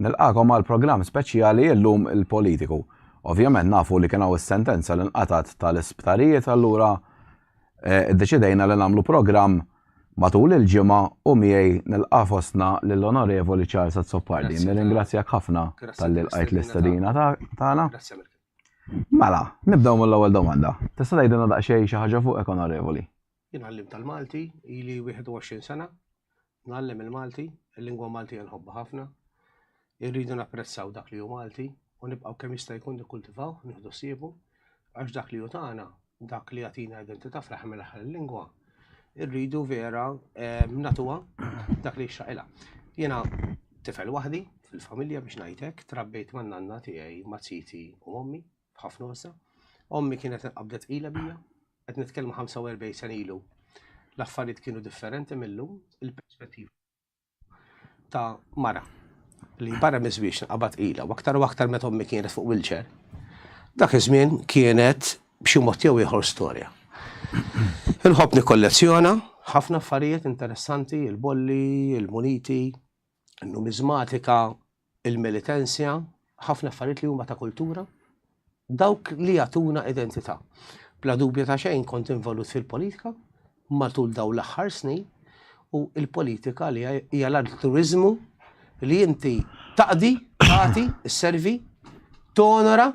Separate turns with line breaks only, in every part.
Nilqagħkom għal programm speċjali illum il-politiku. Ovvjament nafu li kien hawn is-sentenza li nqatgħet tal-isptarijiet allura eh, iddeċidejna li nagħmlu programm matul il-ġimgħa u miegħi nilqa' fostna lill-Onorevoli Charles Azzopardi. Nirringrazzjak ħafna tal-li lqajt l-istadina tagħna. Mela, nibdew mill-ewwel domanda. Tista' tgħidilna daqsxejn xi ħaġa fuq Onorevoli? Jien għallimta
l-Malti, ili 21 sena ngħallem il-Malti, il-lingwa Maltija nħobbha ħafna. Irridu napprezzaw dak li hu Malti u nibqgħu kemm jista' jkun nikkultivaw, nieħdu siebu, għax dak li hu tagħna, dak li jagħtina identità fl-aħħar mill-aħħar il-lingwa, irridu vera nagħtuha dak li jixraqilha. Jiena tifel waħdi fil-familja biex ngħid hekk, trabbejt man-nanna tiegħi, ma' titi u ommi. b'ħafna unsa. Ommi kienet qabdet tqila bija, qed nitkellmu 45 sena ilu. L-affarijiet kienu differenti mil-lum, il-perspettiva ta' mara li barra miż-żwieġ nqabad tqila u aktar u aktar meta ommi kienet fuq wheelchair. Dak iż-żmien kienet b'xi mod jew ieħor storja. Inħobb nikkollezzjona ħafna affarijiet interessanti, il-bolli, il-muniti, in-numiżmatika, il-militensja, ħafna affarijiet li huma ta' kultura, dawk li jagħtuna identità. Bla dubju ta' xejn kont involut fil-politika matul daw l-aħħar snin u il-politika li hija l-altruizmu li inti taqdi, tagħti, servi, tonora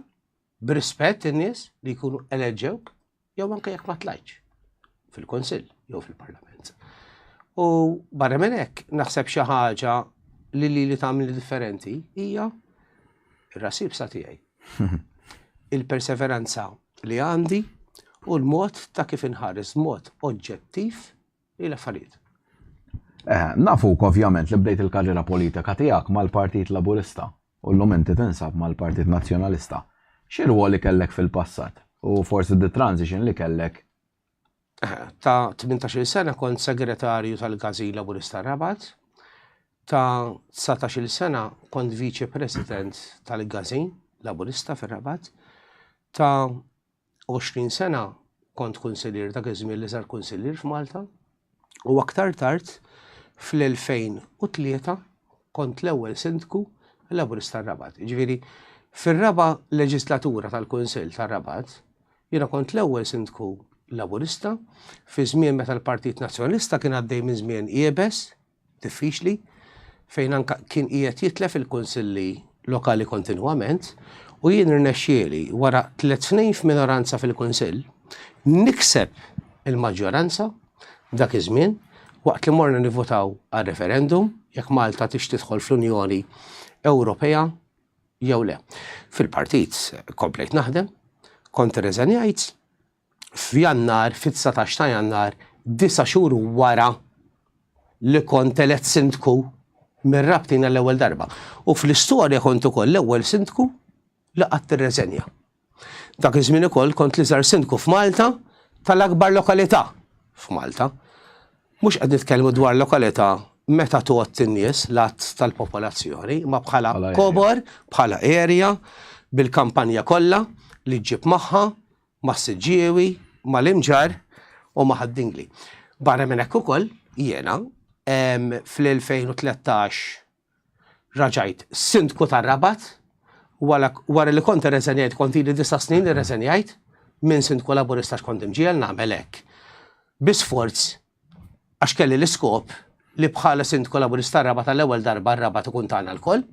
b'rispett in-nies li jkunu eleġġewk jew anke jekk ma tlajtx fil-Kunsill jew fil-Parlament. U barra minn hekk naħseb xi ħaġa li li li tagħmel differenti hija r-rasib sa tiegħi. Il-perseveranza li għandi u l-mod ta' kif inħares mod oġġettiv Hi l-affarijiet.
Nafuk ovvjament li bdejt il-karriera politika tiegħek mal-Partit Laburista u llum inti tinsab mal-Partit Nazzjonalista. Xi rwoli kellek fil-passat u forsi d-transition li kellek?
Ta' tmintax-il sena kont Segretarju tal-Gazin Laburista r-Rabat. Ta' dsatax-il sena kont Viċi President tal-Gazin Laburista fir-Rabat. Ta' 20 sena kont kunsillier dak iż-żmien li sar kunsillier f'Malta u aktar tard fl-2003 kont l-ewwel sindku Laburist tar-Rabat. Ġifieri fir-raba' leġislatura tal-Kunsill tar-Rabat jiena kont l-ewwel sindku Laburista fi żmien meta l-Partit Nazzjonalista kien għaddej minn żmien iebes diffiċli fejn anke kien qiegħed jitlef il-kunsilli lokali kontinwament u jien rnexxieli wara tliet snin f'minoranza fil-kunsill nikseb il-maġġoranza dak iż-żmien waqt li morna nivvutaw għal referendum jekk Malta tix tidħol fl-Unjoni Ewropea jew le. Fil-partit komplejt naħdem, kont irreżenjajt f'Jannar, fit-dsatax ta' Jannar, disa' xhur wara li kont elett Sindku mir-Rabtin għall-ewwel darba. U fl-istorja kont ukoll l-ewwel Sindku li qatt irreżenja. Dak iż-żmien ukoll kont l-iżgħar Sindku f'Malta tal-akbar lokalità f'Malta. Mhux qed nitkellmu dwar lokalità meta tgħodd in-nies, l-għadd tal-popolazzjoni, imma bħala kobor, bħala area, bil-kampanja kollha li ġġib magħha, mas-Siġġiewi, mal-Imġarr u ma' Ħad-Dingli. Barra minn hekk ukoll, jiena, fl-2013 raġajt Sindku tar-Rabat wara li kont irreżenjajt, kont ili disa' snin li rreżenjajt minn Sindku Laburista għax kont imġiegħel nagħmel hekk bi sforz Għax kelli l-iskop li bħala Sindku Laburist tar-Rabat għall-ewwel darba r-Rabat ikun tagħna lkoll.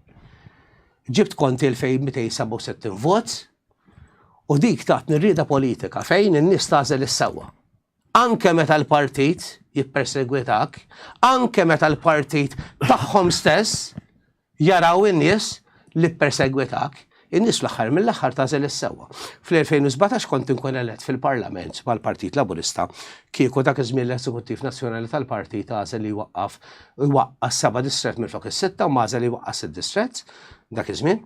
Ġibt kont 2267 vot u dik tatni rrieda politika fejn in-nies tagħżel is-sewwa. Anke meta l-partit jippersegwitak, anke meta l-partit tagħhom stess Jaraw in-nies li ppersegwitak, in-nies fl-aħħar mill-aħħar tagħżel is-sewwa. Fl-2017 kont inkun elett fil-Parlament mal-Partit Laburista kieku dak iż-żmien l-Eżekuttiv Nazzjonali tal-Partit għażel li jwaqqaf iwaqqas seba' distrett minflok is-sitta u m'għażel li jwaqqas sitt distrett dak iż-żmien.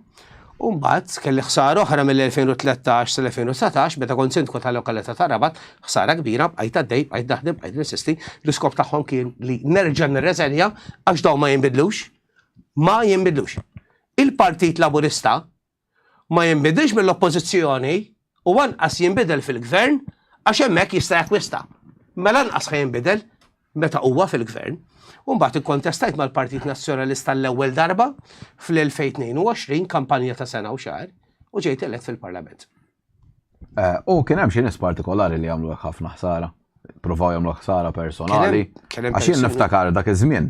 U mbagħad kelli ħsara oħra mill-2013 sal-2019 meta kont Sindku tal-lokalità ta' Rabat, ħsara kbira, bqajt għaddej, bqajt naħdem, bqajt ninsisti, l-iskop tagħhom kien li nerġa' nirreżenja għax dawn ma jinbidlux. ma jinbidlux. Il-Partit Laburista ma jinbidilx mill-Oppożizzjoni u anqas jinbidel fil-Gvern għax hemmhekk jista' jakkwista. Mela anqas ħa jinbidel meta huwa fil-Gvern. U mbagħad ikkontestajt mal-Partit Nazzjonalista l-ewwel darba fl-2022 kampanja ta' sena u xahar u ġejt elett fil-Parlament.
U kien hemm xi nies partikolari li jagħmlu hekk ħafna ħsara. Provaw jagħmlu ħsara personali. Għax jien niftakar dak iż-żmien.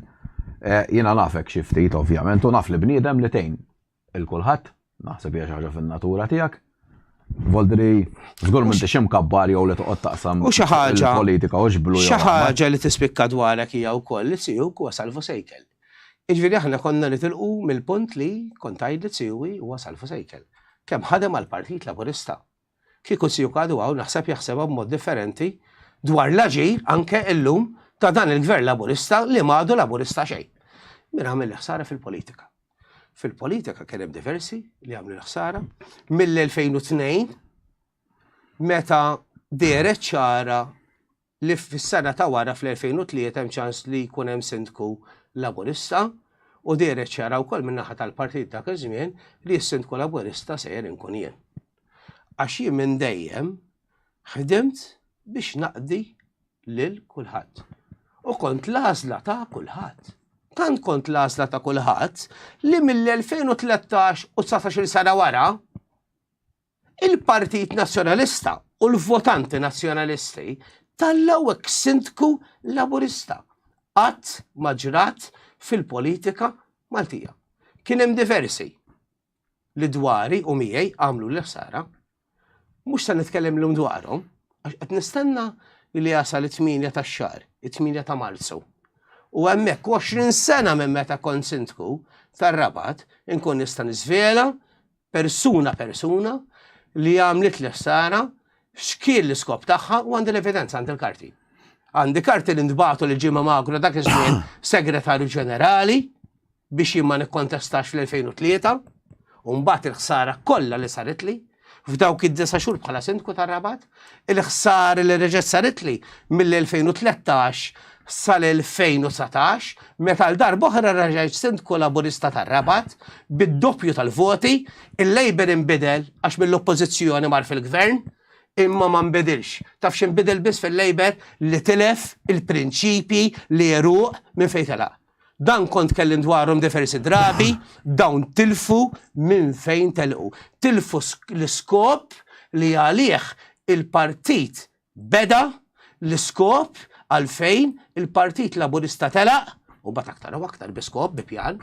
Eh, jiena nafek xi ftit ovvjament u naf li bniedem li tejn il-kulħadd, naħseb hija xi ħaġa fin-natura tiegħek. Voldri, żgur minn tixim kabbar jew li toqgħod taqsam u xi ħaġa politika u xblu. Xi ħaġa li tispikka
dwarek hija wkoll li siju kwa salvu sejkel. Jiġifieri aħna konna nitilqu mill-punt li, kont tgħidli Tsiui huwa salvu sejkel. Kemm ħadem għall-Partit Laburista. Kieku Tsiuk għadu hawn naħseb jaħsebha b'mod differenti dwar l-aġir anke illum ta' dan il-Gvern Laburista li m'għadu Laburista xejn. Min għamel l-ħsara fil-politika. Fil-politika kien hemm diversi li għamlu l-ħsara mill-2002 meta deret ċara li fis-sena ta' wara fl-2003 hemm ċans li jkun hemm Sindku Laburista u dehret ċara wkoll min-naħa tal-Partit dak iż-żmien li s-Sindku Laburista sejjer inkun jien. Għax jien minn dejjem ħdimt biex naqdi lil kulħadd u kont l-għażla ta' kulħadd. Tant kont l-għażla ta' kulħadd li mill-2013 u dsatax-il sena wara, Il-Partit Nazzjonalista u l-votanti Nazzjonalisti tallgħu eks Sindku Laburista. Qatt ma ġrat fil-politika Maltija. Kien hemm diversi li dwari u miegħi għamlu l-ħsara. Mhux se nitkellem llum dwarhom, għax qed nistenna li jasal it-tmienja tax-xahar, it-tmienja ta' Marzu. U hemmhekk 20 sena minn meta kont sindku tar-Rabat inkun nista' niżvela persuna persuna li għamlit l-ħsara x'kien l-iskop tagħha u għandi l-evidenza għandi l-karti. Għandi karti li ntbatu li ġimma magru dak iż-żmien segretarju ġenerali biex jimma nikkontestax fl-2003 u mbagħad il-ħsara kollha li saritli f'dawk id-disa xhur bħala sindku tar-Rabat. Il-ħsara li reġgħet saritli mill-2013 sal-2019 meta għal darba oħra reġgħet Sindku Laburista tar-Rabat bid-doppju tal-voti, il-Labour inbidel għax mill-Oppożizzjoni mar fil-Gvern, imma ma nbidilx. Taf x'inbidel biss fil-Labour li tilef il-prinċipji, l-għeruq minn fejn telaq. Dan kont tkellim dwarhom diversi drabi, dawn tilfu minn fejn telqu. Tilfu l-iskop li għalih il-partit beda, l-iskop għalfejn il-Partit Laburista telaq, u mbagħad aktar u aktar bi skop, bi pjan,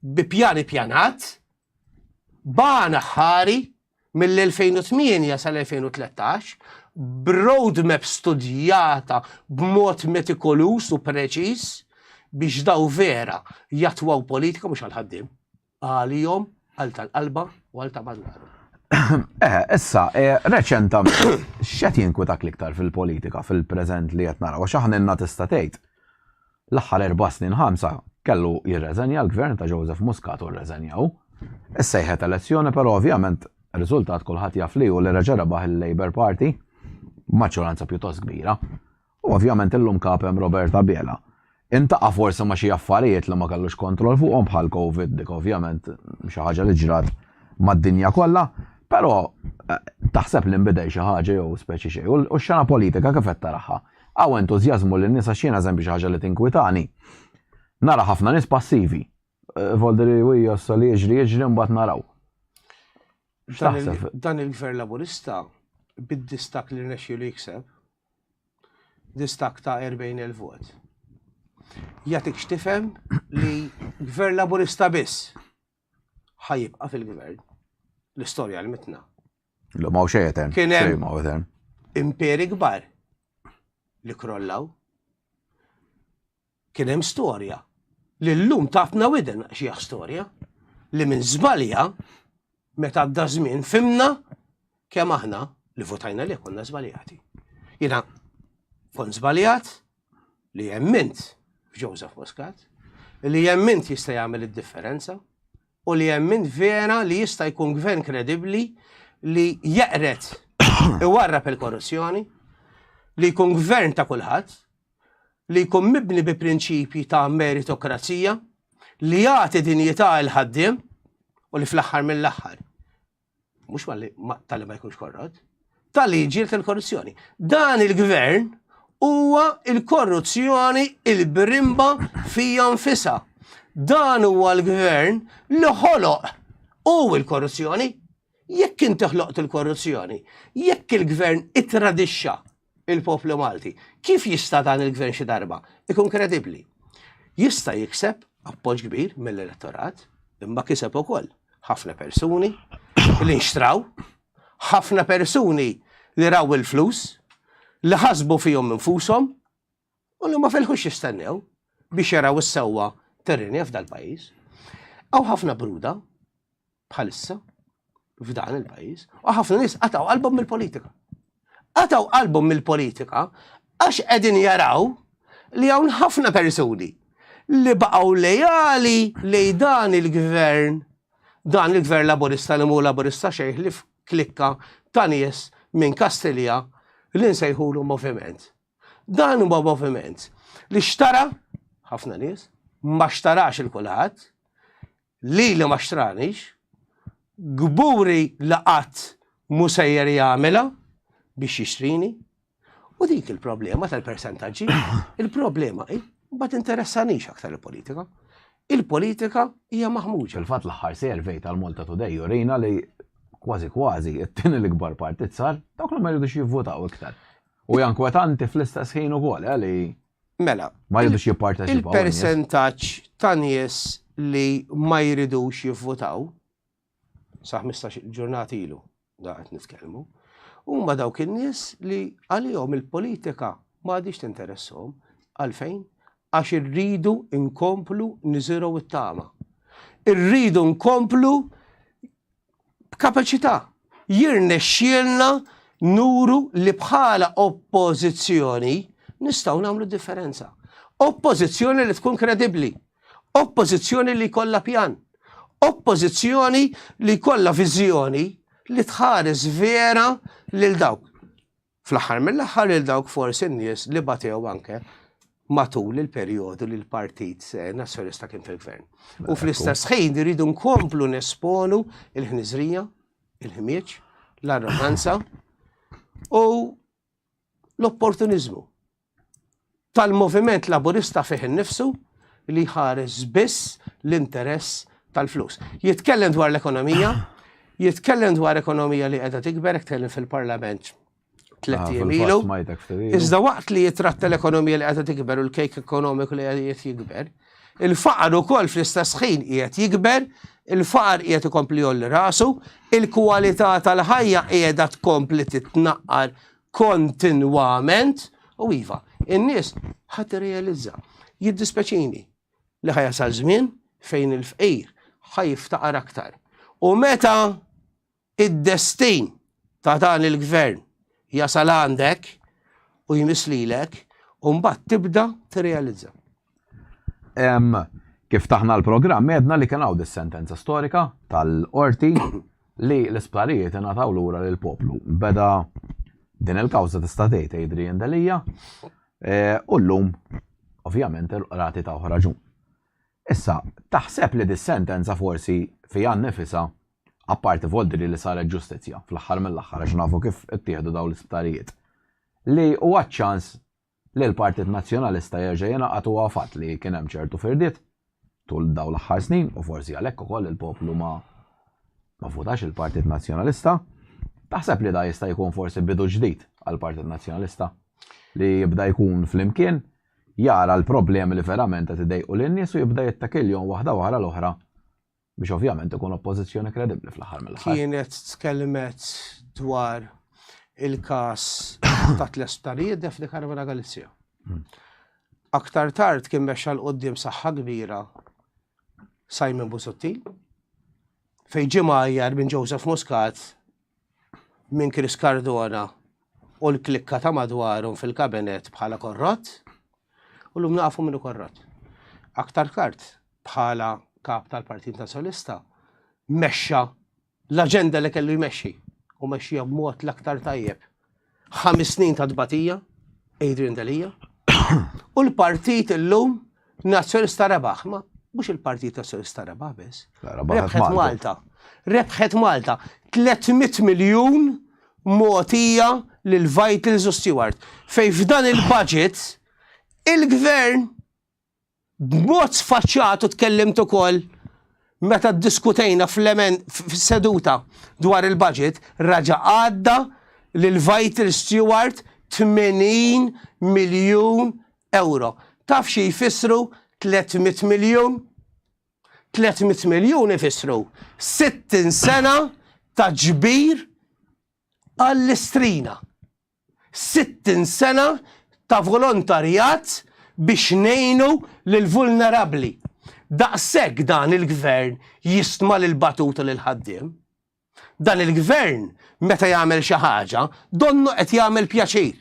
bi pjan ippjanat, b'għan aħħari mill-2008 sal-2013 b'roadmap studjata b'mod metikoluż u preċiż biex daw vera jatwaw politika mhux għal ħaddiem għalihom għal tal-qalba u għal ta' madwar. Eh,
issa, eh, reċentament, x'qed jinkwitak l-iktar fil-politika fil-preżent li qed naraw, għax aħna tista' tgħid L-aħħar erba' snin ħamsa kellu jirreżenja l-Gvern ta' Joseph Muscat u rreżenja hu. Issejħet elezzjoni però ovvjament r-riżultat kulħadd jaf li hu li reġa' rebaħ il-Labour Party b'maġġoranza pjuttost kbira. U ovvjament illum Kap hemm Robert Abela. Intaqa' forsi ma' xi affarijiet li ma kellux kontroll fuqhom bħal Covid dik ovvjament xi ħaġa li ġrat mad-dinja kollha, però taħseb li nbidel xi ħaġa jew speċi xejn u x-xena politika kif qed taraha? Hawn entużjażmu li n-nies għax jiena żempi xi ħaġa li tinkwitani. Nara ħafna nies passivi. Volderi wi jossa li jiġri jiġri mbagħad naraw.
Dan il-Gvern Laburista bid-distak li rnexxi li jikseb, distak ta' 40,000 vot. Jatik xtifem li Gvern Laburista biss ħa jibqa' fil-gvern. L-istorja għalmitna. L-lum għaw xej
etern. Kien hemm
imperi kbar li krollaw. Kien hemm storja li l-lum tatna widen xieħ storja li minn żbalja meta għadda żmien fimna kemm aħna li votajna li konna żbaljati. Jina kont żbaljat, li jemmint f'Joseph Muscat, li jemmint jista' jagħmel id-differenza u li jemmint vera li jista' jkun gvern kredibbli li jeqret iwarrab il-korruzzjoni, li jkun gvern ta' kulħadd, li jkun mibni bi prinċipji ta' meritokrazija, li jagħti dinjità il ħaddiem u li fl-aħħar mill-aħħar mhux malli tal ma jkunx korrott, tal-li jġilt il-korruzzjoni. Dan il-gvern huwa il-korruzzjoni il-birimba fija nfisa. Dan huwa l-gvern li ħoloq u il-korruzzjoni. Jekk inti ħloqt il-korruzzjoni, jekk il-gvern ittradixxa il-poplu Malti. Kif jista' dan il-gvern xi darba ikun kredibbli? Jista' jikseb appoġġ kbir mill-elettorat, imma kiseb ukoll ħafna persuni li nxtraw, ħafna persuni li raw il-flus, li ħasbu fihom infushom, u li ma felħux jistennew biex jaraw is-sewwa terrinja f'dal-pajjiż. Hawn ħafna bruda bħalissa f'dan il-pajjiż u ħafna nies qatgħu qalbhom mill-politika. Qatgħu qalbhom mill-politika għax qegħdin jaraw li hawn ħafna persuni li baqgħu lejali lej dan il-gvern, dan il-gvern laburista li mu laburista xejn li klikka ta' nies minn Kastilja li nsejħulu moviment Dan huwa moviment li xtara ħafna nies, ma xtarax il kulħadd, li li ma xtranix, kburi li qatt mhu sejjer jagħmilha biex jixtrini. U dik il-problema tal-persentaġġi, il-problema hi ma tinteressanix aktar il-politika. Il-politika hija maħmuġa. Fil-fatt l-aħħar survey
tal-Malta Today jurina li kważi kważi it-tieni l-ikbar partit sar dawk li ma jridux jivvotaw iktar. U hija inkwetanti fl-istess ħin ukoll, eh, li Mela, ma
jridux jipparteċipaw.
Il-persentaġġ
ta' nies li ma jridux jivvutaw, sa' 15 ġurnati ilu, da' qed nitkellmu, huma dawk in-nies li għalihom il-politika ma għadix tinteressahom għalfejn għax irridu nkomplu niżiru it-tama. Irridu nkomplu b'kapaċità. Jirnexxielna nuru li bħala oppożizzjoni nistgħu nagħmlu differenza. Oppożizzjoni li tkun kredibbli, oppożizzjoni li jkollha pjan, oppożizzjoni li jkollha viżjoni li tħares vera lil dawk. Fl-aħħar mill-aħħar lil dawk forsi n-nies li batew anke matul il-perjodu li l-Partit Nazzjonista kien fil-Gvern. U fl-istess ħin iridu nkomplu nesponu il-ħniżrija, il-ħmieġ, l-arroganza u l-opportunizmu. tal-Moviment Laburista fih innifsu li jħares biss l-interess tal-flus. Jitkellem dwar l-ekonomija, jitkellem dwar ekonomija li qiegħda tikber, jitkellem fil-Parlament tliet jiem ilu. Iżda waqt li jitratta l-ekonomija li qiegħda tikber u l-kejk ekonomiku li qiegħed jikber, il-faqar ukoll fl-istess ħin qiegħed jikber, il-faqar qiegħed ikompli jolli rasu, il-kwalità tal-ħajja qiegħda tkompli titnaqqar kontinwament u iva, in-nies ħadd irrealizza. Jiddispeċini li ħajasal żmien fejn il-fqir ħaj jiftaqar aktar. U meta id-destin ta' dan il-gvern jasal għandek u jmislilek, u mbagħad tibda tirrealizza.
Kif taħna l-programm għedna li kien hawn is-sentenza storika tal-qorti li l-isptarijiet ingħataw lura lil poplu. Beda din il-kawża tista' tgħid Adrian Delija e, u llum ovvjament il-qrati ta' ħraġun. Issa, taħseb li dis-sentenza forsi fija nifisa apparti voldri li saret ġustizzja fl-aħħar mill-aħħar għax nafu kif ittieħdu dawn l-isptarijiet. Li huwa ċans li l-Partit Nazzjonalista jerġa' jingħaqad huwa fatt li kien hemm ċertu firdiet tul dawn l-aħħar snin u forsi għalhekk ukoll il-poplu ma ma vvutax il-Partit Nazzjonalista. Taħseb li dan jista' jkun forsi bidu ġdid għall-Partit Nazzjonalista li jibda jkun flimkien jara l-problemi li verament qed idejqu lin-nies u jibda jittakilhom waħda wara l-oħra Biex ovvjament ikun oppożizzjoni kredibbli fl-aħħar mill-aħħar. Kienet tkellmet
dwar il-każ ta' tliet sptarijiet Daphne Caruana Galizia. Hmm. Aktar tard kien mexxa l qoddim saħħa kbira Simon Busuttil, fej ġimgħa minn Joseph Muscat minn Chris Cardona u l-klikka ta' madwarhom fil-kabinet bħala korrott, u l-lum nafu minnu korrott. Aktar kart bħala kap tal-Partit Nazzjonista mexxa l-aġenda li kellu jmexxi u mexxija b'mod l-aktar tajjeb Ħames snin ta' tbatija, Adrian Delia, u l-partit illum Nazzjonista rebaħ, ma mhux il-partit Nazzjonista rebaħ biss. Rebħet Malta. Rebħet Malta. 300 miljun motija lil Vitals u Stewart. Fej f'dan il-budget il-gvern B'mod sfaċċat u tkellimt ukoll meta ddiskutejna fis-seduta dwar il-budget, raġa' għadda lil Vital Steward 80 miljun ewro. Taf xi jfissru 300 miljun? 300 miljun ifissru 60 sena ta' ġbir għall-istrina. 60 sena ta' volontarjat biex ngħinu lill-vulnerabbli. Daqshekk dan il-Gvern jistma' lill-batut u lill-ħaddiem. Dan il-Gvern meta jagħmel xi ħaġa donnu qed jagħmel pjaċir.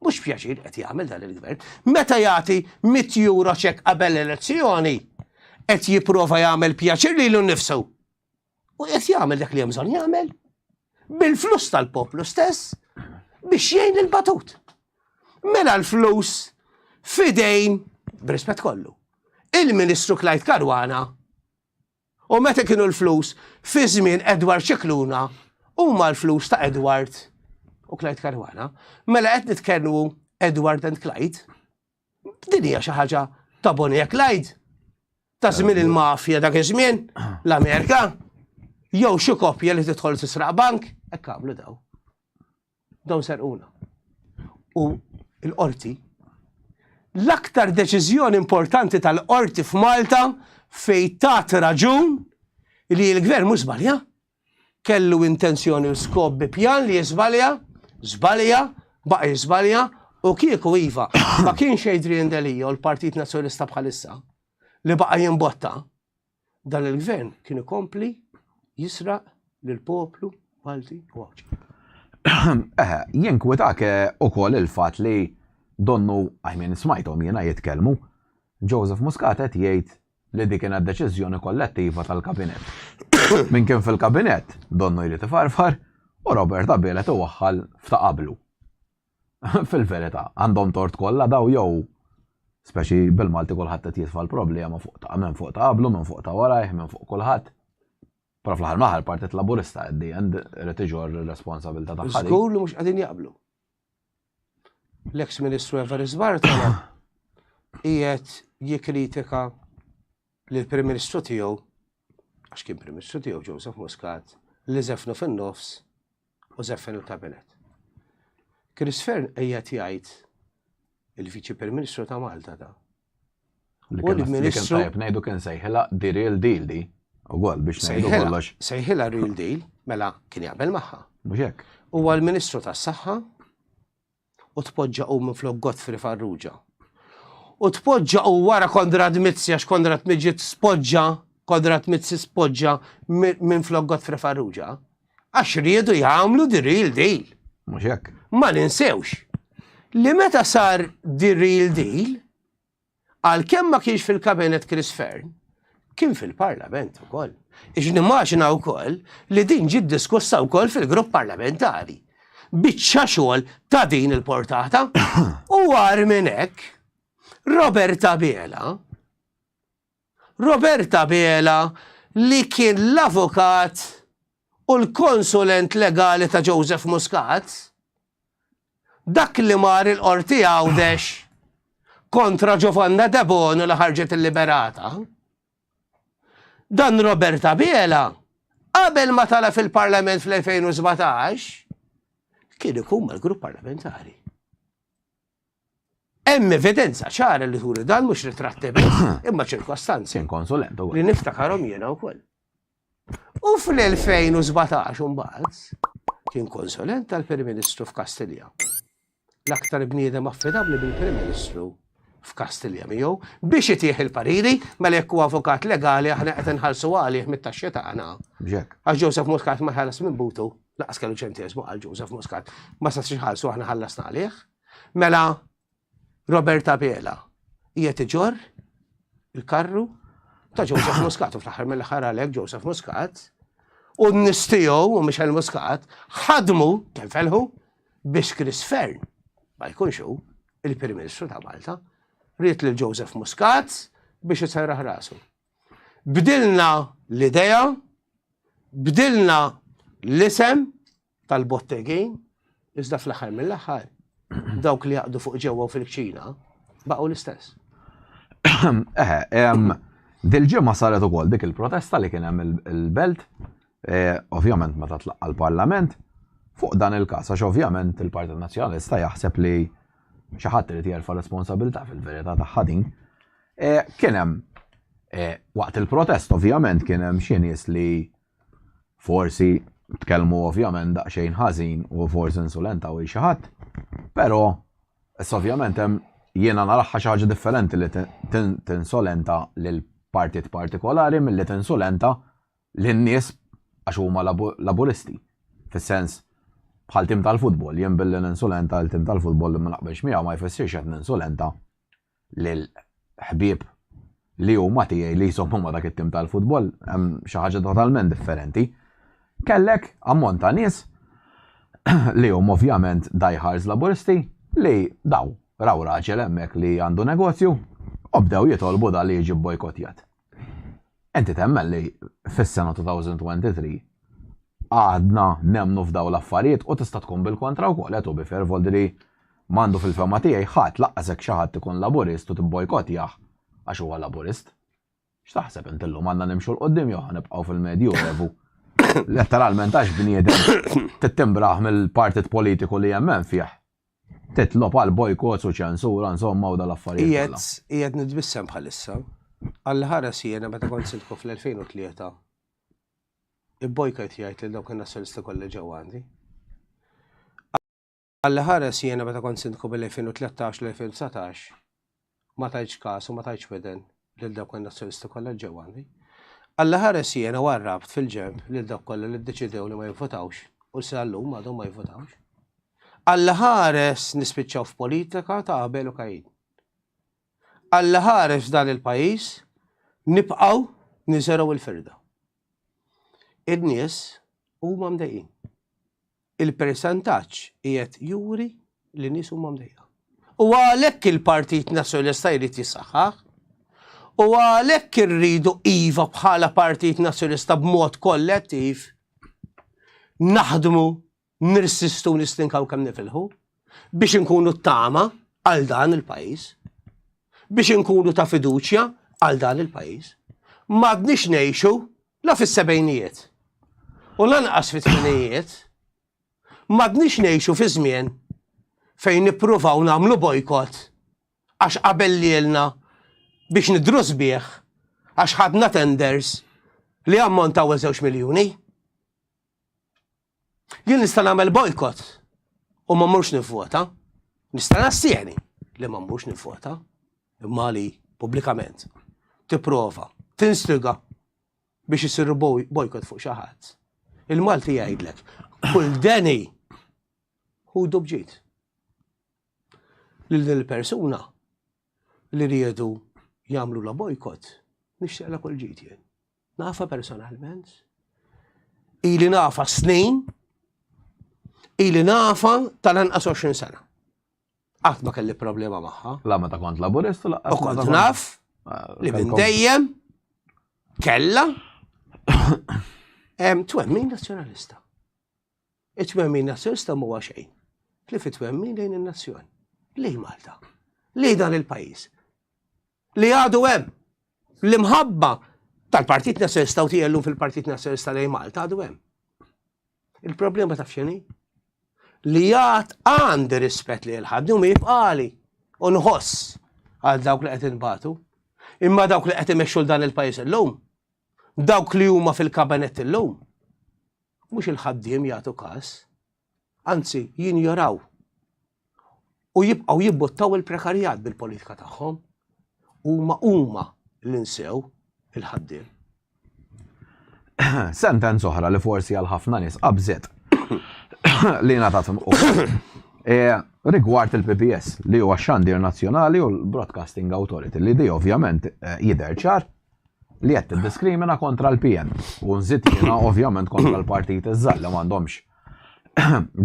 Mhux pjaċir qed jagħmel dan il-Gvern. Meta jagħti mitt euro cheque qabel l-elezzjoni qed jipprova jagħmel pjaċir lilu nnifsu. U qed jagħmel dak li hemm bżonn jagħmel bil-flus tal-poplu stess biex jgħin il-batut. Mela l-flus fidejn, brispet kollu, il-Ministru Klajt Karwana u meta kienu l-flus fi żmien Edward Ċikluna huma l-flus ta' Edward u Klajt Karwana. Mela qed nitkellmu Edward and Klajt, Din hija xi ħaġa ta' Bonnie Clyde ta' żmien il-mafja dak iż-żmien, l-Amerika, jew xi koppja li tidħol tisraq bank, hekk għamlu daw. Dawn serquna. U l-qorti l-aktar deċiżjoni importanti tal-qorti f'Malta fej tat raġun li l-gvern mhux żbalja. kellu intenzjoni u skop bi pjan li jiżbalja, żbalja, baqa' jiżbalja u kieku iva, ma kienx Adrian Delia u l-Partit Nazzjonalista bħalissa li baqa' jimbotta, dan il-Gvern kien ikompli jisraq lill-poplu Malti u Għawdxi. Eħe, jinkwitak
ukoll il-fatt li donnu, I mean, smajthom jiena jitkellmu, Joseph Muscat qed jgħid li di kienet deċiżjoni kollettiva tal-Kabinett. Min kien fil-Kabinett, donnu jrid ifarfar, u Robert Abela tiwaħħal f'ta' qablu. Fil-verità, għandhom tort kollha daw jew speċi bil-Malti kulħadd qed jitfa' l-problema fuq ta' minn fuq ta' qablu, minn fuq ta' warajh, minn fuq kulħadd. Però fl-aħħar maħal Partit Laburista għeddi għand irid iġor ir-responsabilità tagħha. Żgur li mhux qegħdin jaqblu.
l-eks Ministru Everis Bartolo qiegħed jikkritika lill-Prim Ministru tiegħu, għax kien Prim Ministru tiegħu Joseph Muscat, li żefnu fin-nofs u żeffen il-kabinet. Chris Fern qiegħed jgħid il-Viċi Prim Ministru ta' Malta ta'
U l-Ministru. Tajb, ngħidu kien sejħilha di real deal di. Ugual biex ngħidu kollox. Sejħilha real deal,
mela kien jaqbel magħha. Mhux hekk. Huwa
l-Ministru
tas-Saħħa u tpoġġa u minn flok Godfrey Farrugia. U tpoġġa u wara Kondra Dmizzi għax Kondra Dmizzi spoġġa, Kondra Dmizzi spoġġa minn flok Godfrey Farrugia. għax riedu jagħmlu di real deal. Mhux hekk.
Ma ninsewx
li meta sar di real deal għal kemm ma kienx fil-kabinet Chris Fern, kien fil-parlament ukoll. Ix nimmaġina wkoll li din ġid diskussa wkoll fil-grupp parlamentari. Biċċa xogħol ta' din il-portata u għar minn hekk Robert Abela Robert Abela li kien l-avukat u l-konsulent legali ta' Joseph Muscat, dak li mar il-Qorti Għawdex kontra Giovanna Debono li ħarġet illiberata. Dan Robert Abela qabel ma tala' fil-Parlament fl-2017 kien ikun mal-Grupp Parlamentari. Hemm evidenza ċara li turi dan mhux ritratti biss, imma ċirkostanzi. Kien konsulent ukoll. Li
niftakarhom jiena
wkoll. U fl-2017 imbagħad kien konsulent tal-Prim Ministru f'Kastilja. L-aktar bniedem affidabbli bil-Prim Ministru f'Kastilja miegħu biex itih il-pariri mela jekk huwa avukat legali aħna qed inħallsu għalih mit-taxxi tagħna. B'hekk. Għax Joseph Muscat ma ħares minn butu. Laqas kellu ċentesmu għal Joseph Muscat. Ma sa xħalsu aħna ħallasna għalih. Mela, Roberta Bela, hija tiġor il-karru ta' Joseph Muscat, u fl-aħħar mill-aħħar għalek Joseph Muscat, u n-nistijow u Michel Muscat, ħadmu, tenfelħu, biex Chris Fern, ma jkunx hu, il-Prim Ministru ta' Malta, rrit lil Joseph Muscat biex jitserraħ rasu. Bdilna l-idea, bdilna l-isem tal-bottegin, iżda fl-aħħar mill-aħħar dawk li jaqdu fuq ġewwa u fil-kċina baqgħu l-istess. Ehm,
dil-ġimgħa saret ukoll dik il-protesta li kien hemm il-belt, eh, ovvjament meta tlaqqa l-Parlament, fuq dan il-każ għax ovvjament il-Partit Nazzjonalista jaħseb li xi ħadd irid jerfa' responsabilità fil-verità tagħha din. Kien hemm waqt il-protest ovvjament kien hemm xi nies li forsi tkellmu ovvjament daqsxejn ħażin u forsi insulentaw il xi ħadd, però issa ovvjament hemm jiena naraha xi ħaġa differenti li tinsolenta lil partit partikolari milli tinsulenta lin-nies għax huma Laburisti. Fis-sens bħal tim tal-futbol, jien billi ninsulenta lil tim tal-futbol li ma naqbilx miegħu ma jfissirx qed ninsulenta lil ħbieb li huma tiegħi li jżommhom ma' dak it-tim tal-futbol hemm xi ħaġa totalment differenti. Kellek ammont ta' nies li hum ovvjament diehards Laburisti li daw raw raġel hemmhekk li għandu negozju u bdew jitolbu dan li jiġi bojkotjat. Inti temmen li fis-sena 2023 għadna nemmnu f'dawn l-affarijiet u tista' tkun bil-kontra wkoll, eh, to be fair, Voldri m'għandu fil-fehma tiegħi ħadd laqqas hekk xi ħadd ikun Laburist u tibbojkottjah għax huwa Laburist. X'taħseb int illum għandna nimxu 'l quddiem jew ħa nibqgħu fil-Medjuevu? Letteralment għax bniedem tittimbrah mill-partit politiku li hemm hemm fih. Titlob għal bojkots u ċensura, insomma, u dal-affarijiet kollha. Qiegħed, qiegħed nitbissem
bħalissa. Alla ħares jiena meta kont sindku fl-2003 ibbojkajt jgħid lil dawk in-Nazzjonisti kollha ġew għandi. Alla ħares jiena meta kont sindku bil-2013 l-2019 ma tajtx kas u ma tajtx widen lil dawk in-Nazzjonisti kollha li ġew għandi. Alla ħares jiena u għarrabt fil-ġenb lil dawk kollha li ddeċidew li ma jivvotawx u sa llum għadhom ma jivvotawx. Alla ħares nispiċċaw f'politika ta' Abel u Kajin. Alla ħares dan il-pajjiż nibqgħu niżergħu l-firda. In-nies huma mdejqin. Il-persentaġġ qiegħed juri li nies huma mdejqa. U għalhekk il-Partit Nazzjonalista jrid jissaħħaħ. U għalhekk irridu iva bħala Partit Nazzjonalista b'mod kollettiv naħdmu nirsistu nistinkaw kemm nifilħu biex inkunu t-tama għal dan il-pajjiż. Biex inkunu ta' fiduċja għal dan il-pajjiż. M'għadniex ngħixu La fis-sebgħinijiet u lanqas fit-tmenijiet m'għadniex ngħixu fi żmien fejn nippruvaw nagħmlu bojkott għax qabellielna biex nidhru sbieħ għax ħadna tenders li ammontaw għal żewġ miljuni. Jien nista' nagħmel bojkott u ma mmurx nivvota. Nista' nassieni li ma mmurx nivvota. Imma li pubblikament tipprova tinstiga biex isir bojkott fuq xi ħadd. Il-Malti jgħidlek, kull deni hu dubġit. Lil din il-persuna li riedu jagħmlu la bojkott, nixtieqla kull ġid jien. Nafa personalment. Ili nafa snin. Ili nafa tal-anqas 20 sena. Qatt ma kelli problema magħha. La meta kont laburist
la. U kont naf
ah, li minn dejjem kella twemmin nazzjonalista. It-twemmin nazzjonalista mhuwa xejn. Li fit-twemmin lejn in-nazzjon. Lej Malta. Lej dan il-pajjiż. li għadu hemm. L-imħabba tal-Partit Nazzjonalista u tiegħi llum fil-Partit Nazzjonalista lejn Malta għadu hemm. Il-problema ta' f'xini? Li għad għandi rispett li l-ħadni u jibqali u nħoss għal dawk li qed inbatu. Imma dawk li qed imexxu dan il-pajjiż illum, dawk li huma fil-kabinet illum, mhux il-ħaddiem jagħtu każ, anzi jinjoraw u jibqgħu jibbuttaw il-prekarjat bil-politika tagħhom huma huma li nsew il-ħaddiem.
Sentenz oħra li forsi għal ħafna nies qabżet li ngħatat e, rigward il-PBS li huwa xandir nazzjonali u l-Broadcasting Authority li di ovvjament e, jidher ċar li qed tiddiskrimina kontra l-PN u nżid jiena ovvjament kontra l-partit iżżar li m'għandhomx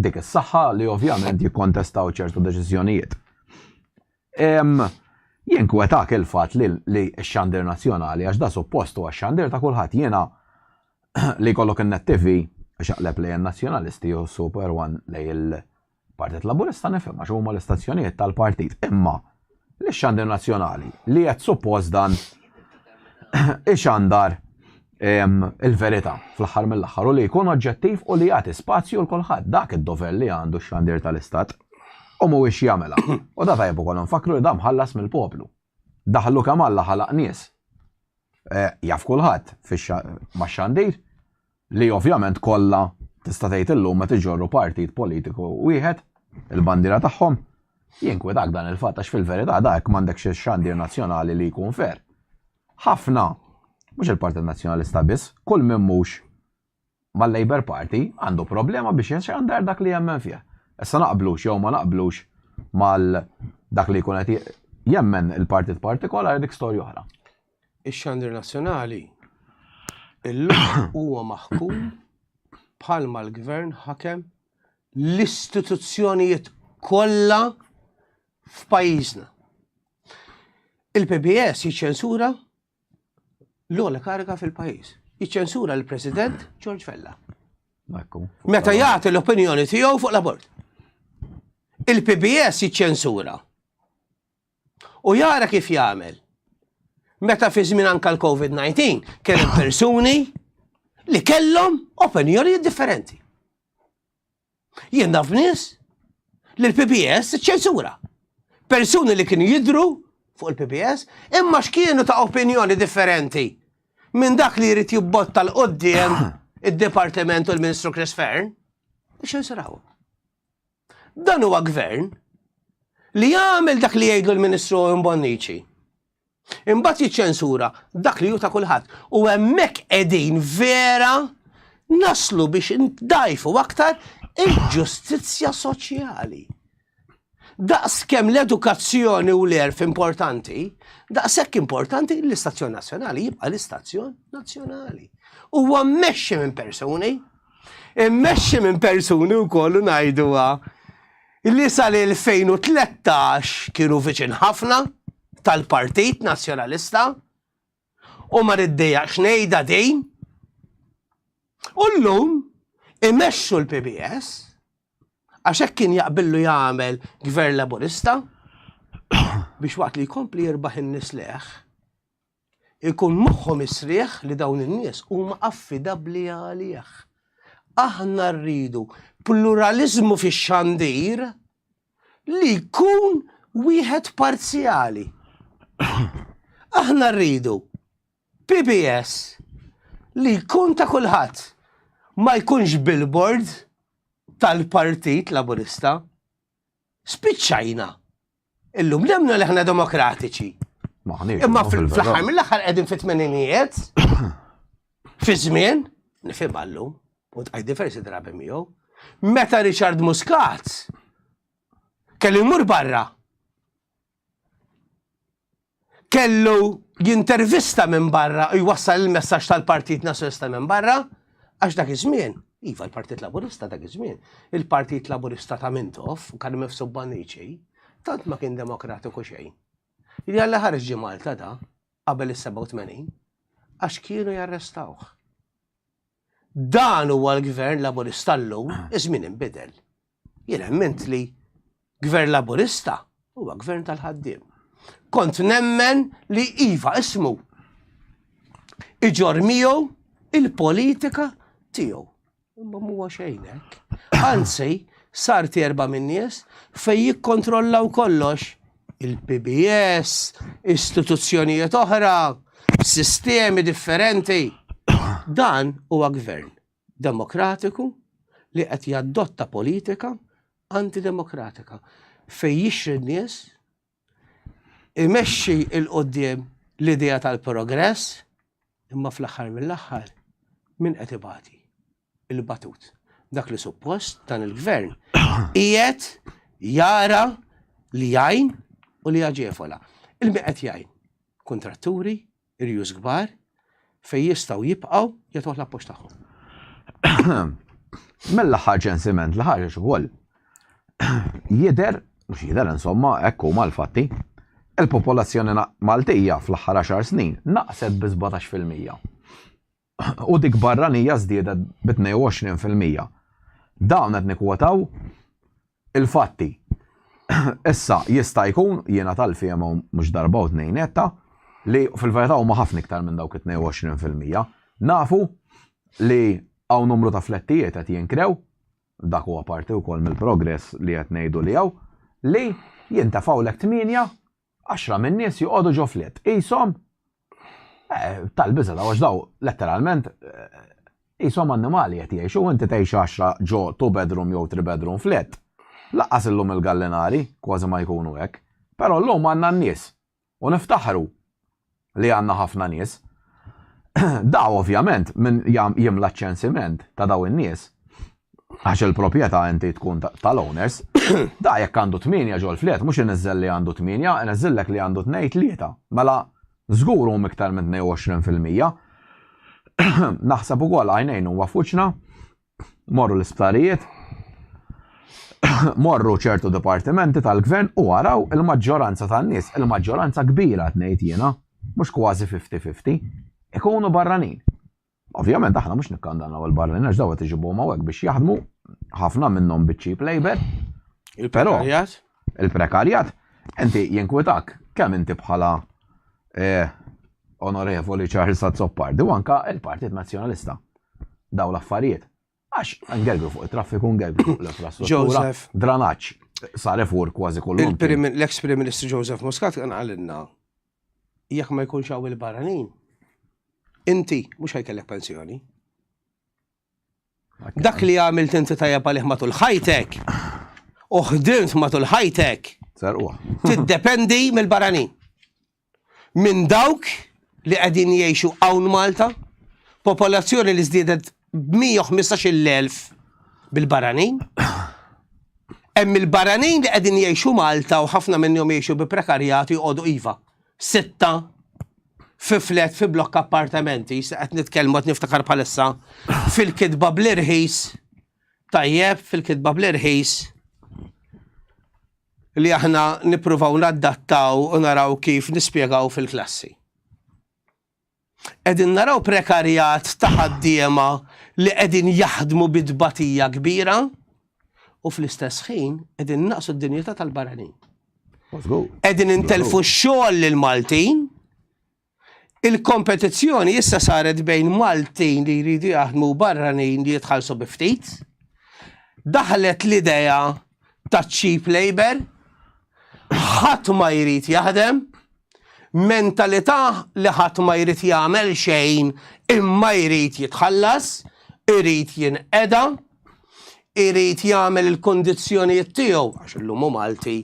dik is-saħħa li ovvjament jikkontestaw ċertu deċiżjonijiet. Jien kwetak il-fatt li x-xandir nazzjonali għax da suppost huwa x-xandir ta' kulħadd jiena li jkollok in-net TV xaqleb lejn nazzjonalisti u super one lejn Partit Laburista nifhimha għax huma l-istazzjonijiet tal-partit imma lix-xandir nazzjonali li qed suppost dan ixandar il-verità fl-aħħar mill-aħħar u li jkun oġġettiv u li jagħti spazju l kulħadd dak id-dover li għandu x-xandir tal-istat u mhuwiex jagħmilha. U da tajjeb ukoll nfakkru li dan mħallas mill-poplu. Daħlu kemm Alla ħalaq nies. Eh, jaf kulħadd max-xandir li ovvjament kollha tista' tgħid illum meta iġorru partit politiku wieħed il-bandiera tagħhom jinkwetak dan il-fatt għax fil-verità dak m'għandekx xandir nazzjonali li jkun fer. Ħafna mhux il-Partit Nazzjonalista biss, kull minn mhux mal-Labour Party għandu problema biex ixandar dak li jemmen fih. Issa naqblux jew ma naqblux mal dak li jkun qed jemmen il-partit partikolari dik storja oħra. Ix-Xandir
Nazzjonali illum huwa maħkum bħalma l-Gvern ħakem l-istituzzjonijiet kollha f'pajjiżna. Il-PBS jiċċensura l-ogħla kariga fil-pajjiż. Jiċċensura l-President George Fella. Meta jagħti l-opinjoni tiegħu fuq l-abort. Il-PBS jiċċensura. U jara kif jagħmel. Meta fi żmien anka l-COVID-19 kien persuni li kellhom opinjoni differenti. Jien naf nies li l-PPS ċensura. Persuni li kienu jidru fuq il-PPS imma x'kienu ta' opinjoni differenti minn dak li jrid jibbotta l-qoddim id-Dipartiment u l-Ministru Chris Fern biex jinsraw. Dan huwa gvern li jagħmel dak li jgħidu l-Ministru Mbonnici. Imbagħad jiċċensura dak li hu ta' kulħadd. U hemmhekk qegħdin vera naslu biex ndajfu aktar il-ġustizzja soċjali. Daqs kemm l-edukazzjoni u l-erf importanti, daqshekk importanti l-istazzjon nazzjonali jibqa' l-istazzjon nazzjonali. Huwa mmexxi minn persuni, immexxi minn persuni wkoll ngħiduha li sal-2013 kienu viċin ħafna tal-Partit Nazzjonalista u ma riddijax ngħidha din. U llum imexxu l-PBS għax hekk kien jaqbillu jagħmel Gvern Laburista biex waqt li jkompli jirbaħ in-nies leħ Ikun moħħhom is-srieħ li dawn in-nies huma affidabbli għalih. Aħna rridu pluraliżmu fix-xandir li jkun wieħed parzjali. Aħna rridu PBS li jkun ta' kulħadd, ma jkunx billboard tal-Partit Laburista. Spiċċajna. Illum nemnu li ħna demokratiċi. Imma fl-aħħar mill-aħħar qegħdin fit-tmeninijiet, fi żmien, nifhem għallum, u tqaj diversi drabi miegħu, meta Richard Muscat kelli mur barra kellu jintervista minn barra u jwassal il-messaġġ tal-Partit Nazzjonista minn barra, għax dak iż-żmien, iva l-Partit Laburista dak iż-żmien, il-Partit Laburista ta' Mintoff, kan mifsub Banniċi, tant ma kien demokratiku xejn. Jalla ħarġ ġi Malta da, qabel is-87, għax kienu jarrestawh. Dan huwa l-Gvern Laburista llum, iż-żmien inbidel. Jien emmind li Gvern Laburista huwa Gvern tal-ħaddiem. Kont nemmen li iva ismu iġor miegħu il-politika tiegħu. Imma huwa xejn hekk. Anzi, sar terba min-nies fejn jikkontrollaw kollox il-PBS, istituzzjonijiet oħra, sistemi differenti. Dan huwa gvern demokratiku li qed jaddotta politika antidemokratika fej jixri n-nies imexxi il-qoddim l-idea tal-progress imma fl-aħħar mill-aħħar min qed ibati. il-batut. Dak li suppost dan il-gvern qiegħed jara li jgħin u li jaġefola. Il-min qed jgħin kontratturi, irjus kbar, fej jistgħu jibqgħu jagħtuh l-appoġġ tagħhom.
Mill-aħħar ċensiment li ħareġ ukoll jidher mhux jidher insomma hekk huma l-fatti. Il-popolazzjoni Maltija fl-aħħar 10 snin naqset bi 17 fil-mija. u dik barranija żdiedet bi 22 fil-mija. Dawn qed nikkwotaw il-fatti. Issa, jista' jkun, jiena tal-fehma u mhux darba u tnejn għedtha, li fil-verità huma ħafna iktar minn dawk it-22 fil-mija. Nafu li hawn numru ta' flettijiet qed jinkrew, dak huwa parti wkoll mill-progress li qed ngħidu li hawn, li jintefgħu lek 8 Għaxra min-nies joqogħdu ġo fliet. Qishom tal-biża' daw għax daw letteralment qishom annimali qed jgħixu u inti tgħix għaxra ġo two bedroom jew three bedroom fliet. Lanqas illum il-gallinari kważi ma jkunu hekk. Però llum għandna n-nies u niftaħru li għandna ħafna nies. Da ovvjament min jimla ċ-ċensiment ta' dawn in-nies għax il-proprjetà inti tkun tal-owners, da jekk għandu tminja ġol flet, mhux iniżżel li għandu tminja, iniżżillek li għandu tnejn tlieta. Mela żgur hum iktar minn 22%. Naħseb ukoll għajnejn huwa f'wiċċna morru l-isptarijiet, morru ċertu dipartimenti tal-gvern u għaraw il-maġġoranza tan-nies, il-maġġoranza kbira tnejt jiena, mhux kważi 50-50, ikunu barranin. Ovvjament aħna mhux nikkandannaw il-barranin għax dawa tiġibhom hawnhekk biex jaħdmu ħafna minnhom biċċi labor. Però
Il-prekarjat,
inti jinkwetak kemm inti bħala Onorevoli Charles Azzopardi u anke l-Partit Nazzjonalista dawn l-affarijiet. Għax ngergru fuq it-traffiku, ngergru fuq l-infrastruttura, dranaġġ sar efur kważi kollu. L-eks Prim Ministru
Joseph Muscat kien qalilna jekk ma jkunx hawn il-barranin, inti mhux ħajkellek pensjoni. Dak li għamilt inti tajjeb għalih matul ħajtek u ħdimt matul ħajtek tiddependi mill-barranin. Minn dawk li qegħdin jgħixu hawn Malta, popolazzjoni li żdiedet b'115,000 bil-barranin. Hemm il-barranin li qegħdin jgħixu Malta u ħafna minnhom jgħixu bi prekarjat u joqogħdu iva. sitta fi flet fi blokk appartamenti, se qed nitkellmu qed niftakar bħalissa fil-kitba bl-irħis tajjeb fil-kitba bl-irħis li aħna nippruvaw naddattaw u naraw kif nispjegaw fil-klassi. Qegħdin naraw prekarjat ta' ħaddiema li qegħdin jaħdmu bi tbatija kbira u fl-istess ħin qegħdin innaqsu d-dinjità tal-barranin. Qegħdin intelfu x-xogħol lil Maltin. Il-kompetizzjoni issa saret bejn Maltin li jridu jaħdmu barranin li jitħallsu bi ftit. Daħlet l-idea ta' cheap labour, ħadd ma jrid jaħdem, mentalità li ħadd ma jrid jagħmel xejn imma jrid jitħallas, irid jinqeda, irid jagħmel il-kundizzjonijiet tiegħu għax illum hu Malti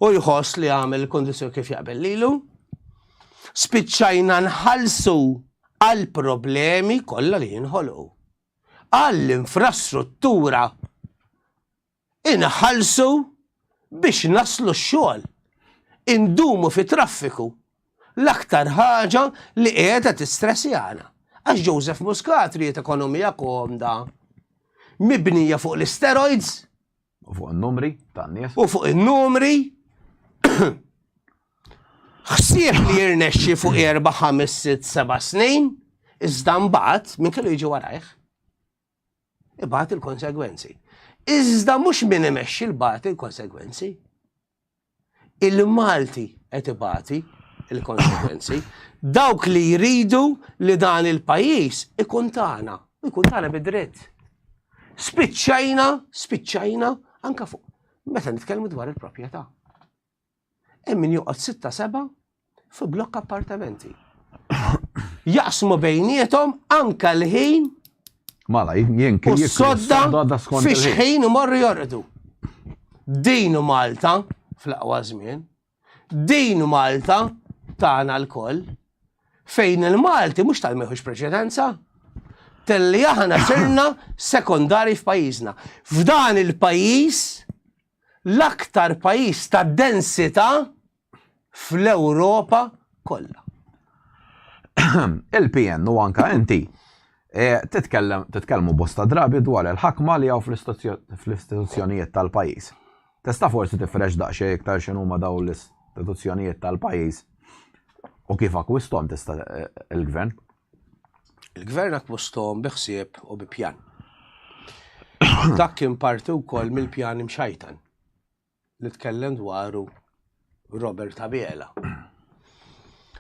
u jħoss li jagħmel il-kundizzjoni kif jaqbel lilu. Spiċċajna nħallsu għall-problemi kollha li jinħolqu. għall-infrastruttura inħallsu biex naslu x-xogħol, indumu fi traffiku, l-aktar ħaġa li qiegħda tistressjana għax Joseph Muscat ried ekonomija komda mibnija fuq l-isteroids. U fuq
in-numri tan-nies. U fuq in-numri
ħsieb li jirnexxi fuq erba' ħames sitt seba' snin, iżda mbagħad minn kellu jiġi warajh. Ibgħat il-konsegwenzi. Iżda mhux min imexxi l-bagħat il-konsegwenzi. Il-Malti qed ibati il-konsekwenzi. Dawk li jridu li dan il-pajjiż ikun tagħna, ikun tagħna bid-dritt. Spiċċajna, spiċċajna anka fuq meta nitkellmu dwar il-proprjetà. Hemm min joqgħod sitta seba' Fi blokk appartamenti. Jaqsmu bejnietom anka l-ħin. Mala,
jien kien sodda
fiex ħin imorru jorqdu. Din Malta, fl-aqwa żmien, din Malta tagħna l-koll, fejn il-Malti mhux tal-meħux preċedenza, telli aħna sirna sekondari f'pajjiżna. F'dan il-pajjiż, l-aktar pajjiż ta' densità fl-Ewropa kollha.
Il-PN u anka inti eh, titkellmu bosta drabi dwar il-ħakma li għaw fl-istituzzjonijiet tal-pajis. Testa forsi tifrex daqxie iktar xinu ma daw l-istituzzjonijiet tal-pajis u kif akwistom tista eh, il-gvern?
Il-gvern akwistom biħsieb u bi pjan. Dak kien parti wkoll mill-pjan imxajtan. li tkellem dwaru Robert Abela.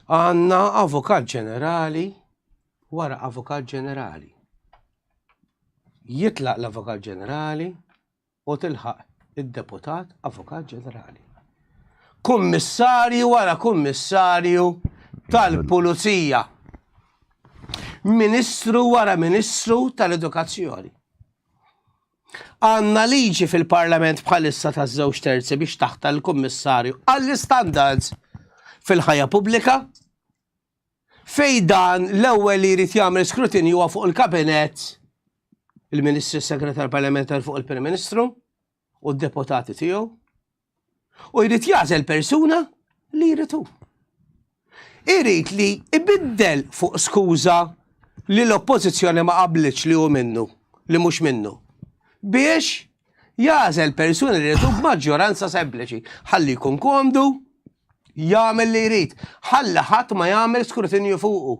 Għanna avukat ġenerali wara avukat ġenerali. Jitlaq l-avukat ġenerali u tilħaq id-deputat avukat ġenerali. Kummissarju wara kummissarju tal-pulizija. Ministru wara ministru tal-edukazzjoni. Għandna liġi fil-Parlament bħalissa taż-żewġ terzi biex taħtar il-Kummissarju għall-Istandards fil-Ħajja Pubblika fejn dan l-ewwel li jrid jagħmel skrutinju huwa fuq il-Kabinett il-Ministri Segretar Parlamentari fuq il-Prim Ministru u d-deputati tiegħu U jrid jagħżel persuna li jrid hu. Irid li ibiddel fuq skuża li l-Oppożizzjoni ma qablitx li hu minnu, li mhux minnu. Biex jagħżel persuna li jrid hu b'maġġoranza sempliċi. Ħalli jkun komdu, jagħmel li jrid. Ħalli ħadd ma jagħmel skrutinju fuqu.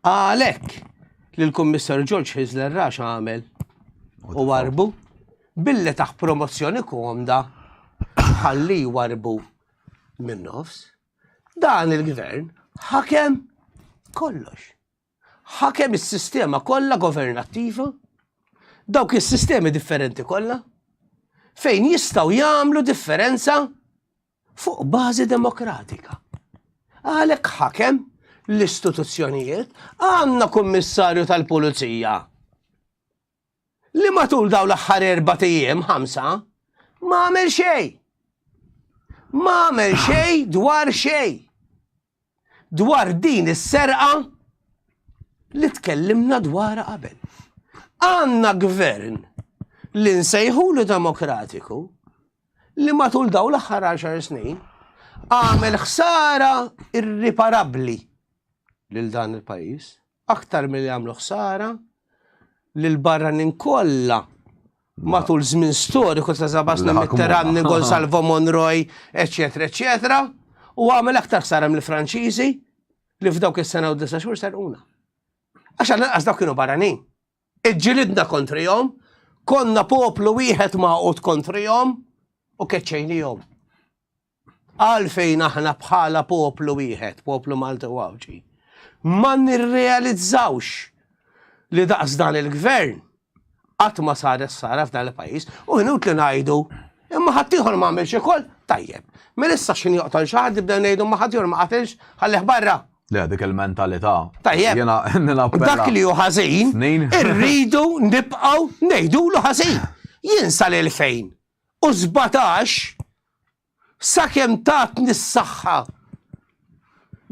Għalhekk li l-Kummissar George Hizzler Rax għamel u warbu billi taħ promozzjoni komda ħalli warbu minn nofs. Dan il-gvern ħakem kollox. Ħakem is-sistema kollha governattiva, dawk is-sistemi differenti kollha, fejn jistgħu jagħmlu differenza fuq bażi demokratika. Għalhekk ħakem l-istituzzjonijiet għandna kummissarju tal-pulizija li matul daw l-aħħar erba' ijiem ħamsa ma għamel xejn. Ma għamel xejn dwar xejn. dwar din is-serqa li tkellimna dwarha qabel. Għandna gvern li nsejħulu demokratiku li matul daw l-aħħar 10 snin għamel ħsara irriparabbli lil dan il-pajjiż. aktar milli għamlu ħsara lil barranin kollha matul żmien storiku ta' Zabas Mitterrand, Nigol Salvo Monroy, eċetera, eċetera, u għamel aktar ħsara mill-Franċiżi li f'dawk is-sena u disa' xhur serquna. Għax għal dawk kienu barranin. Iġġilidna kontrihom, konna poplu wieħed maqut kontrihom u keċċejnihom. Għalfejn aħna bħala poplu wieħed, poplu Malti u Għawdxi, ma nirrealizzawx li daqs dan il-gvern qatt ma saret sara f'dan il-pajjiż u ħnut li ngħidu imma ħaddieħor ma għamilx ikoll tajjeb. Mela issa x'in joqtol xi ħadd nibda ngħidu ma ħaddieħor ma qatilx ħallih barra. Le, dik il-mentalità.
Tajjeb. Jena,
nina Dak li hu ħażin, irridu nibqgħu ngħidulu ħażin. Jinsa lil fejn u sbatax sakemm tatni s-saħħa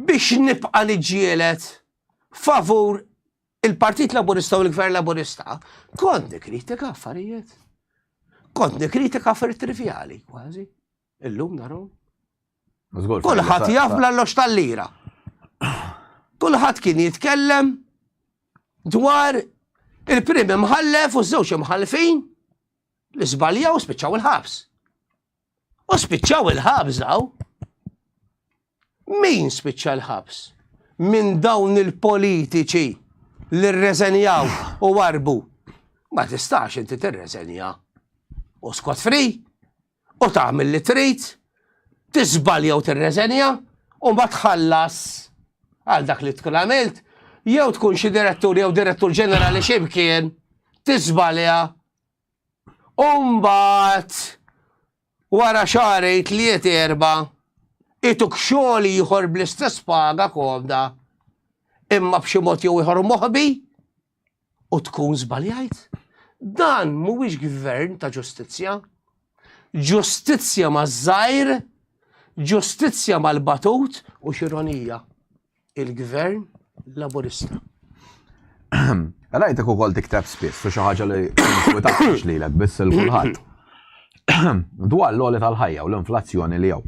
biex nibqa' niġġieled favur il-Partit Laburista u l-Gvern Laburista, kont nikkritika affarijiet. Kont nikkritika affarijiet trivjali kważi. Illum narom. Kulħadd jaf bl-allox tal-lira. Kulħadd kien jitkellem dwar il-prim imħallef u żewġ imħallfin li żbaljaw u spiċċaw il-ħabs. U spiċċaw il-ħabs daw. Min spiċċa l-ħabs? Minn dawn il-politiċi li rreżenjaw u warbu. Ma tistax inti tirreżenja. U skot fri, u tagħmel li trid, tiżbalja u tirreżenja, u ma tħallas għal dak li tkun għamilt, jew tkun xi direttur jew direttur ġenerali ximkien, tiżbalja U mbagħad wara xarej tliet erba' ituk xogħol ieħor bl-istess paga komda imma b'xi mod jew ieħor moħbi u tkun żbaljajt. Dan mhuwiex gvern ta' ġustizzja. Ġustizzja maż-żgħir, ġustizzja mal-batut u x'ironija. il-gvern laburista.
Rajtek u kol tikteb spiss, u xaħġa li nkwitax li l biss il-kulħat. Dwar l-oli tal-ħajja u l-inflazzjoni li jaw.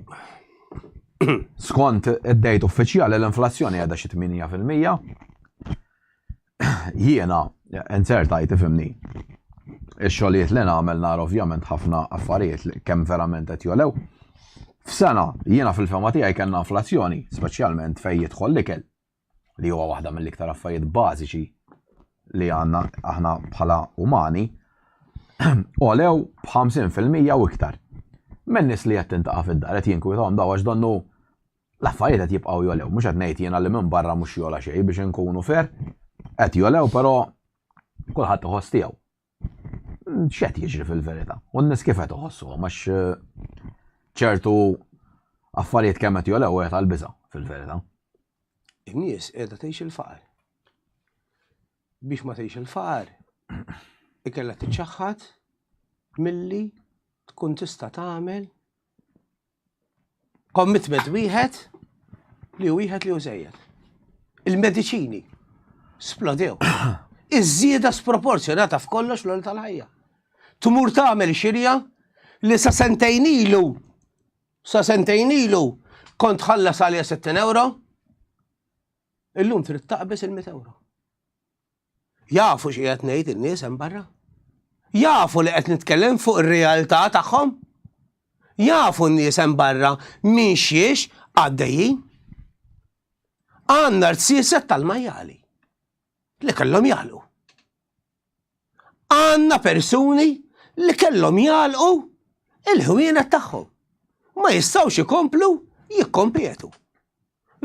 Skont id-dejt uffiċjali l-inflazzjoni għadha xi 8%. Jiena, insert hi tifhimni, ix-xogħlijiet li nagħmel nara ovvjament ħafna affarijiet li kemm verament qed jogħlew. F'sena, jiena fil-fehma tiegħi kellna inflazzjoni, speċjalment fejn jidħol l-ikel, li huwa waħda mill-iktar affarijiet bażiċi li għandna aħna bħala umani, għolew b'50 fil-mija u iktar. Min-nies li qed tintaqa' fid-dar qed jinkwitahom dawn għax donnu L-affarijiet qed jibqgħu jogħlew, mhux qed ngħid jiena li minn barra mhux jogħla xejn biex inkunu fair, qed jogħlew però kulħadd iħoss tiegħu. X'qed jiġri fil-verità? U n-nies kif qed iħossuhom għax ċertu affarijiet kemm qed jogħlew qed għall-biża' fil-verità.
In-nies qiegħda tgħix il-faqar. Biex ma tgħix il-faqar, ikella tiċċaħħad milli tkun tista' tagħmel Commitment wieħed li wieħed li użejjed. Il-mediċini splodew. Iż-żieda sproporzjonata f'kollox l tal-ħajja. Tmur tagħmel xirja li sa sentejn ilu sa sentejn ilu kont ħallas għalija 60 euro, illum trid taqbes il-100 euro. Jafu xi qed ngħid in-nies hemm barra? Jafu li qed nitkellem fuq ir-realtà tagħhom? Jafu n-nies hemm barra minn xiex għaddejjin? Għandna rsiset tal-majjali li kellhom jagħlqu. Għandna persuni li kellhom jagħlqu il-ħwienet tagħhom. Ma jistgħux ikomplu jikkompetu.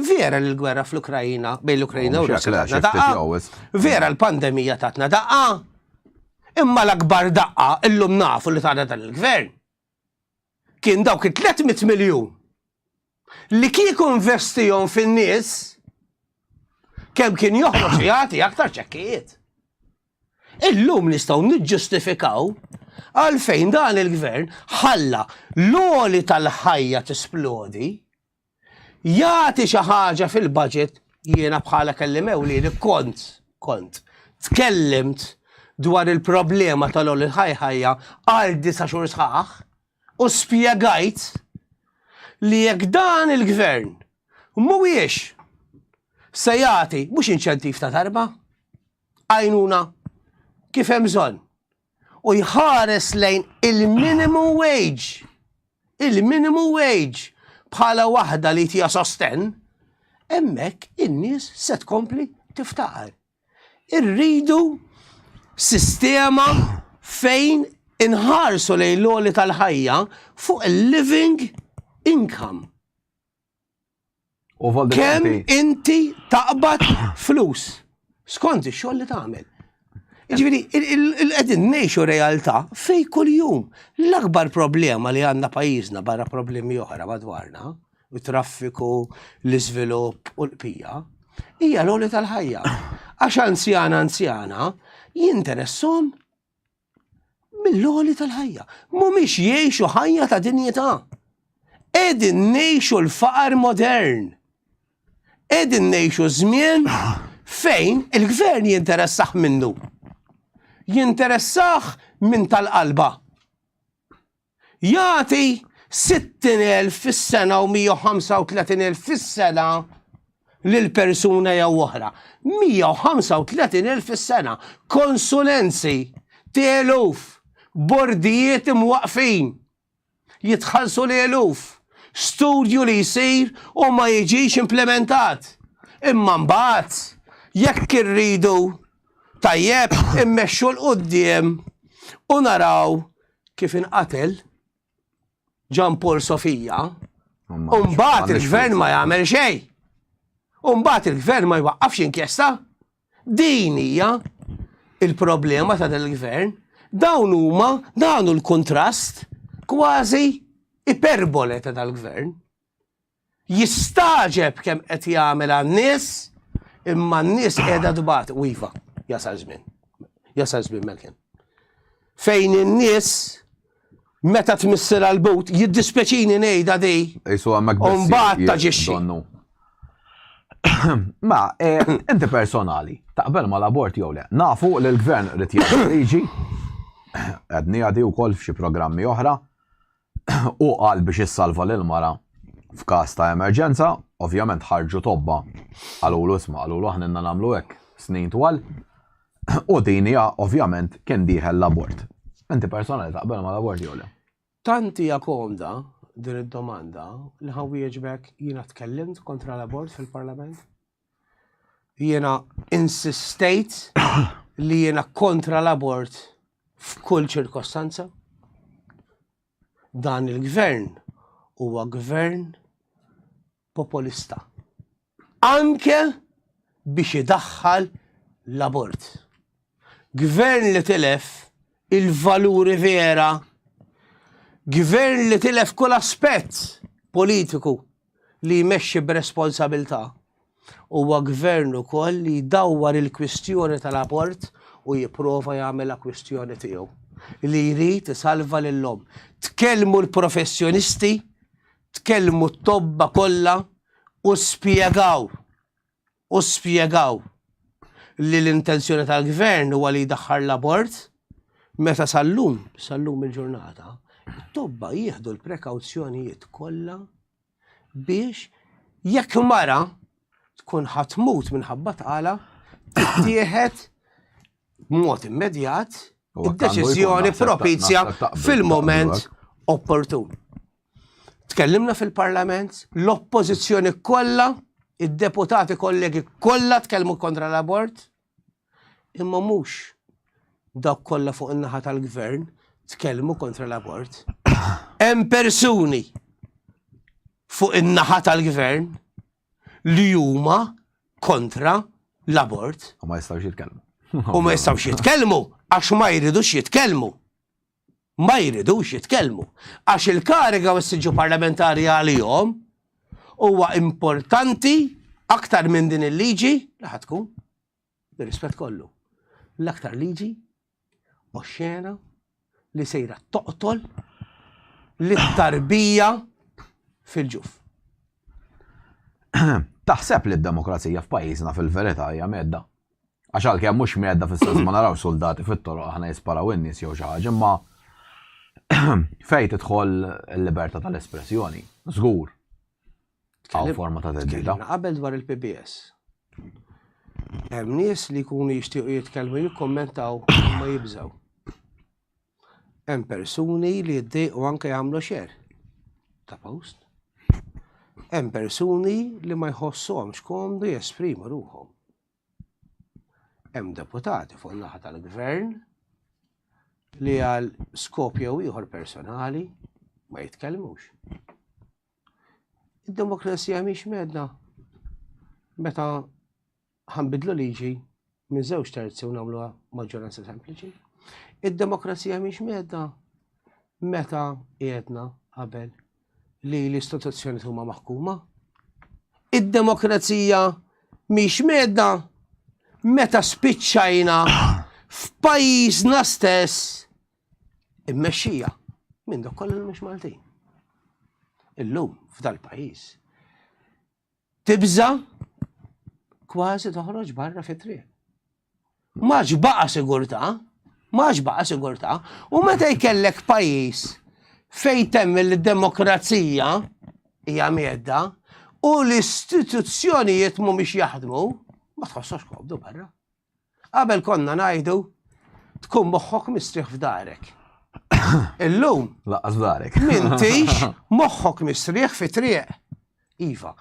Vera li l-gwerra fl-Ukrajina, bejn l-Ukrajina u Russja tatna daqqa. Vera l-pandemija tatna daqqa. Imma l-akbar daqqa illum nafu li tagħna dan il-gvern. Kien dawk it-300 miljun li kieku investihom fin-nies kemm kien joħroġ jagħti aktar ċekkijiet. Illum nistgħu niġġustifikaw għalfejn dan il-gvern ħalla l-oli tal-ħajja tisplodi jagħti xi ħaġa fil-budget jiena bħala kellim ewlieni kont kont tkellimt dwar il-problema tal-ol il-ħajħajja għal disa xhur sħaħ u spjegajt li jekk dan il-gvern mhuwiex se jagħti mhux inċentiv ta' darba għajnuna kif hemm bżonn. u jħares lejn il-minimum wage, il-minimum wage bħala waħda li tija sosten, hemmhekk in-nies se tkompli tiftaqar. Irridu sistema fejn inħarsu lejn l-għoli tal-ħajja fuq il-living income. Kemm inti taqbad flus skont ix-xogħol li tagħmel. Ġifieri, qegħdin ngħixu realtà fej kuljum. L-akbar problema li għandna pajjiżna barra problemi oħra madwarna, u traffiku, l-iżvilupp u l-qpija, hija l-għoli tal-ħajja. Għax anzjana anzjana jinteressom mill-għoli tal-ħajja. Mhumiex jgħixu ħajja ta' dinjità. Qegħdin ngħixu l-faqar modern. Qegħdin ngħixu żmien fejn il-gvern jinteressaħ minnu. Jinteressaħ minn tal-qalba. jagħti 60,000 fis-sena u 135,000 fis-sena lil persuna jew oħra. 135,000 fis-sena. Konsulenzi, teluf, bordijiet imwaqfin. Jitħallsu l-eluf. Studju li jsir u ma jiġix implementat. Imma mbagħad jekk irridu tajjeb immexxu l-qudiem u naraw kif inqatel Ġan Paul Sofija, u mbagħad il-gvern ma jagħmel xejn. U mbagħad il-gvern ma jwaqqafx inkjesta. Din hija il-problema ta' dan il-gvern. Dawn huma dawn l-kontrast kważi iperbole ta' dal-gvern. Jistagħġeb kemm qed jagħmel għan-nies, imma n-nies qiegħda tbati. U iva, jasal żmien. Jasal żmien melkin. Fejn in-nies meta tmissir għal but, jiddispeċini ngħidha di. Isu għamek biss. Mbagħad taġixxi.
Ma, eh, inti personali, taqbel ma l-abort jew le. Nafu li l-gvern rrit jgħaddi liġi, għadni għadi u koll f'xi programmi oħra, Hu qal biex issalva lill-mara f'każ ta' emerġenza, ovvjament ħarġu tobba, qalulu isma' qalulu aħna ilna nagħmlu hekk snin twal u din hija ovvjament kien dieħel l-abort. Inti persona li taqbel mal-abort jew le? Tant hija
komda din id-domanda li ħa nwieġbek jiena tkellimt kontra l-abort fil-Parlament. Jiena insistejt li jiena kontra l-abort f'kull ċirkostanza. Dan il-gvern huwa gvern populista. Anke biex idaħħal l-abort. Gvern li tilef il-valuri vera. Gvern li tilef kull aspett politiku li jmexxi b'responsabilità. Huwa gvern ukoll li jdawwar il-kwistjoni tal-abort u jipprova jagħmilha kwistjoni tiegħu. Li jrid isalva lill-omm. Tkellmu l-professjonisti, tkellmu t-tobba kollha u spjegaw. u spjegaw li l-intenzjoni tal-Gvern huwa li jdaħħar l-abort meta sal-lum, sal-lum il-ġurnata, it-tobba jieħdu l-prekawzjonijiet kollha biex jekk mara tkun ħatmut minħabba tqala tittieħed b'mod immedjat id-deċiżjoni propizja fil-moment opportun. Tkellimna fil-Parlament, l-Oppożizzjoni kollha, id-deputati kollegi kollha tkellmu kontra l-abort, imma mhux dawk kollha fuq in-naħa tal-gvern tkellmu kontra l-abort. Hemm persuni fuq in-naħa tal-gvern li huma kontra l-abort. U ma jistgħux jitkellmu.
U ma jistgħux
jitkellmu għax ma jridux jitkellmu. ma jridux jitkellmu għax il-kariga u s-siġġu parlamentari għalihom huwa importanti aktar minn din il-liġi li ħa tkun, bir-rispett kollu, l-aktar liġi oxxena li sejra toqtol lit-tarbija fil-ġuf.
Taħseb li d-demokrazija f'pajjiżna fil-verità hija medda? Għax għal kemm mhux medda fis-sens ma naraw soldati fit-toroq aħna jisparaw in-nies jew xi ħaġa, imma fejn tidħol il-libertà tal-espressjoni, żgur. Għaw forma ta' teddida. Qabel dwar il-PBS.
Hemm nies li jkunu jixtiequ jitkellmu jikkommentaw ma jibżaw. Hemm persuni li jiddejqu anke jagħmlu xer ta' post. Hemm persuni li ma jħossuhomx komdu jesprimu ruħhom. Hemm deputati fuq naħa tal-gvern li għal skop jew ieħor personali ma jitkellmux. Id-demokrazija mhix medna meta Ħa nbiddlu liġi minn żewġ terzi u nagħmluha maġġoranza sempliċi. Id-demokrazija mhix medda meta qiegħedna qabel li l-istituzzjoni huma maħkuma. Id-demokrazija mhix medda meta spiċċajna f'pajjiżna stess immexxija minn dok kollu mhux Maltin. Illum f'dal-pajjiż tibża' kważi toħroġ barra fit-triq. Max baqa' sigurtà, max baqa' sigurtà, u meta jkellek pajjiż fejn temm il-demokrazija hija miedda u l-istituzzjonijiet mhumiex jaħdmu, ma tħossokx komdu barra. Qabel konna ngħidu tkun moħħok mistrieħ f'darek. Illum. Laqqas f'darek.
Mintix
moħħok mistrieħ fi triq. Iva.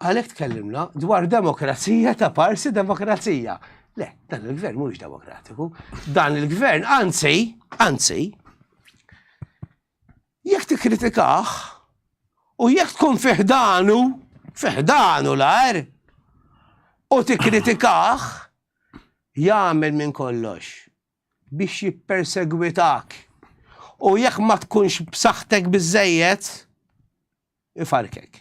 Għalhekk tkellimna dwar demokrazija ta' parsi demokrazija. Le, dan il-gvern mhuwiex demokratiku. Dan il-gvern, anzi, anzi, Jekk tikkritikah, u jekk tkun fi ħdanu, fi ħdanu l-għar, u tikkritikah, jagħmel minn kollox biex jippersegwitak, u jekk ma tkunx b'saħħtek biżżejjed, ifarrkek.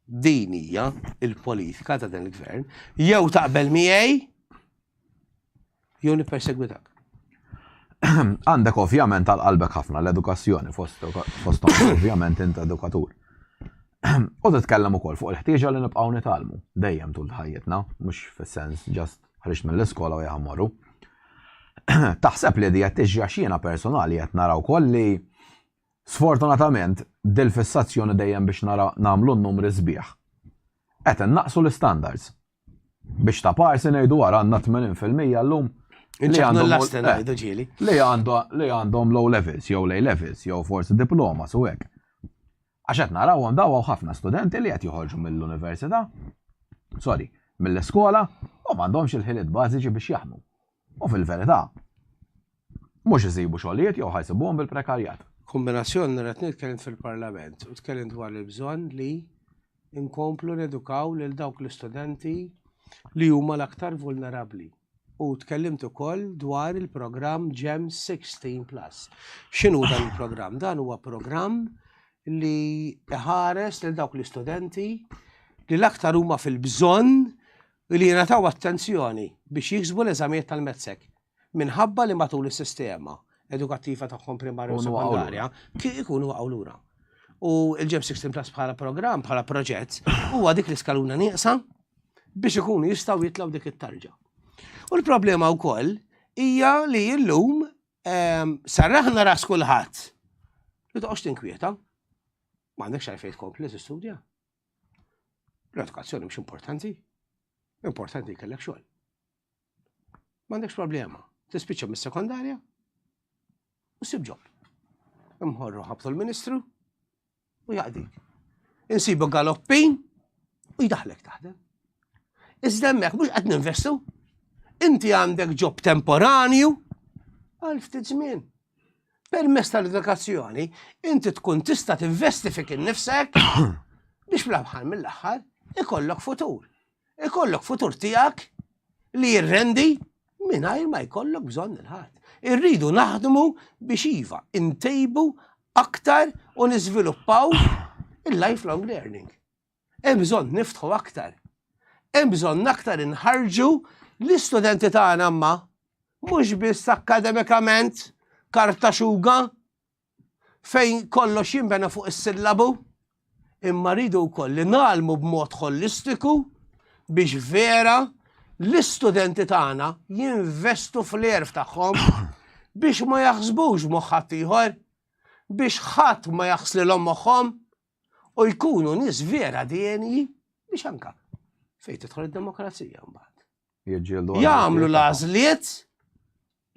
Din hija l-politika ta' dan il-Gvern, jew taqbel miegħi jew nippersegwitak.
Għandek ovvjament għal qalbek ħafna l-edukazzjoni fosthom ovvjament int edukatur. U titkellem ukoll fuq il-ħtieġa li nibqgħu nitgħallmu dejjem tul ħajjitna, mhux fis-sens ġast ħriġt mill-iskola u jaħmorru. Taħseb li di qed tiġi għax jiena personali qed nara wkoll li Sfortunatament, dil-fissazzjoni dejjem biex nara nagħmlu n-numri sbieħ. Qed innaqqsu l-istandards. Biex ta' parsi ngħidu ara għandna 80 fil-mija llum li għandhom li għandhom low levels jew lej levels jew forsi diploma su hekk. Għax qed narawhom daw hawn ħafna studenti li qed joħorġu mill-università, sorry, mill-iskola u m'għandhomx il-ħiliet bażiċi biex jaħdmu. U fil-verità, mhux isibu xogħlijiet jew ħajsibuhom bil-prekarjat. Kombinazzjoni
li qed nitkellem fil-Parlament u tkellimt dwar il-bżonn li nkomplu nedukaw lil dawk l-istudenti li huma l-aktar vulnerabbli. U tkellimt ukoll dwar il-programm GEM 16 Plus. X'inhu dan il-programm? Dan huwa programm li ħares lil dawk l-istudenti li l-aktar huma fil-bżonn u li jingħataw attenzjoni biex jiksbu l-eżamijiet tal-METSEC, minħabba li matul is-sistema edukattiva tagħhom primarja u sekondarja ikunu waqgħu lura. U l-GEM 16 Plus bħala programm, bħala proġett, huwa dik l-iskaluna nieqsa biex ikunu jistgħu jitlaw dik it-tarġa. U l-problema wkoll hija li llum ehm, sarraħna ras kulħadd li toqgħodx tinkwieta. Ma għandekx għalfejn tkompli tistudja. L-edukazzjoni mhux importanti, importanti jkellek xogħol. M'għandekx problema, tispiċċa mis-sekondarja u sib ġob. Imħorru ħabtu l-Ministru u jaqdik. Insibu galoppin u jdaħlek taħdem. Iżda hemmhekk mhux qed ninvestu. Inti għandek ġob temporanju għal ftit żmien. Permezz tal-edukazzjoni, inti tkun tista' tinvesti fik innifsek biex fl-aħħar mill-aħħar ikollok futur. Ikollok futur tiegħek li jirrendi mingħajr ma jkollok bżonn il-ħadd. Irridu naħdmu biex iva, intejbu aktar u niżviluppaw il-lifelong learning. Hemm bżonn niftħu aktar. Hemm bżonn aktar inħarġu l-istudenti tagħna ma mhux biss akkademikament karta xuga fejn kollox jinbena fuq is-sillabu, imma rridu wkoll li nagħlmu b'mod holistiku biex vera l-istudenti tagħna jinvestu fl-erf tagħhom biex ma jaħsbux moħħat ieħor, biex ħadd ma jaħslilhom moħħhom u jkunu nies vera denji biex anka fejn tidħol id-demokrazija mbagħad. Jagħmlu l-għażliet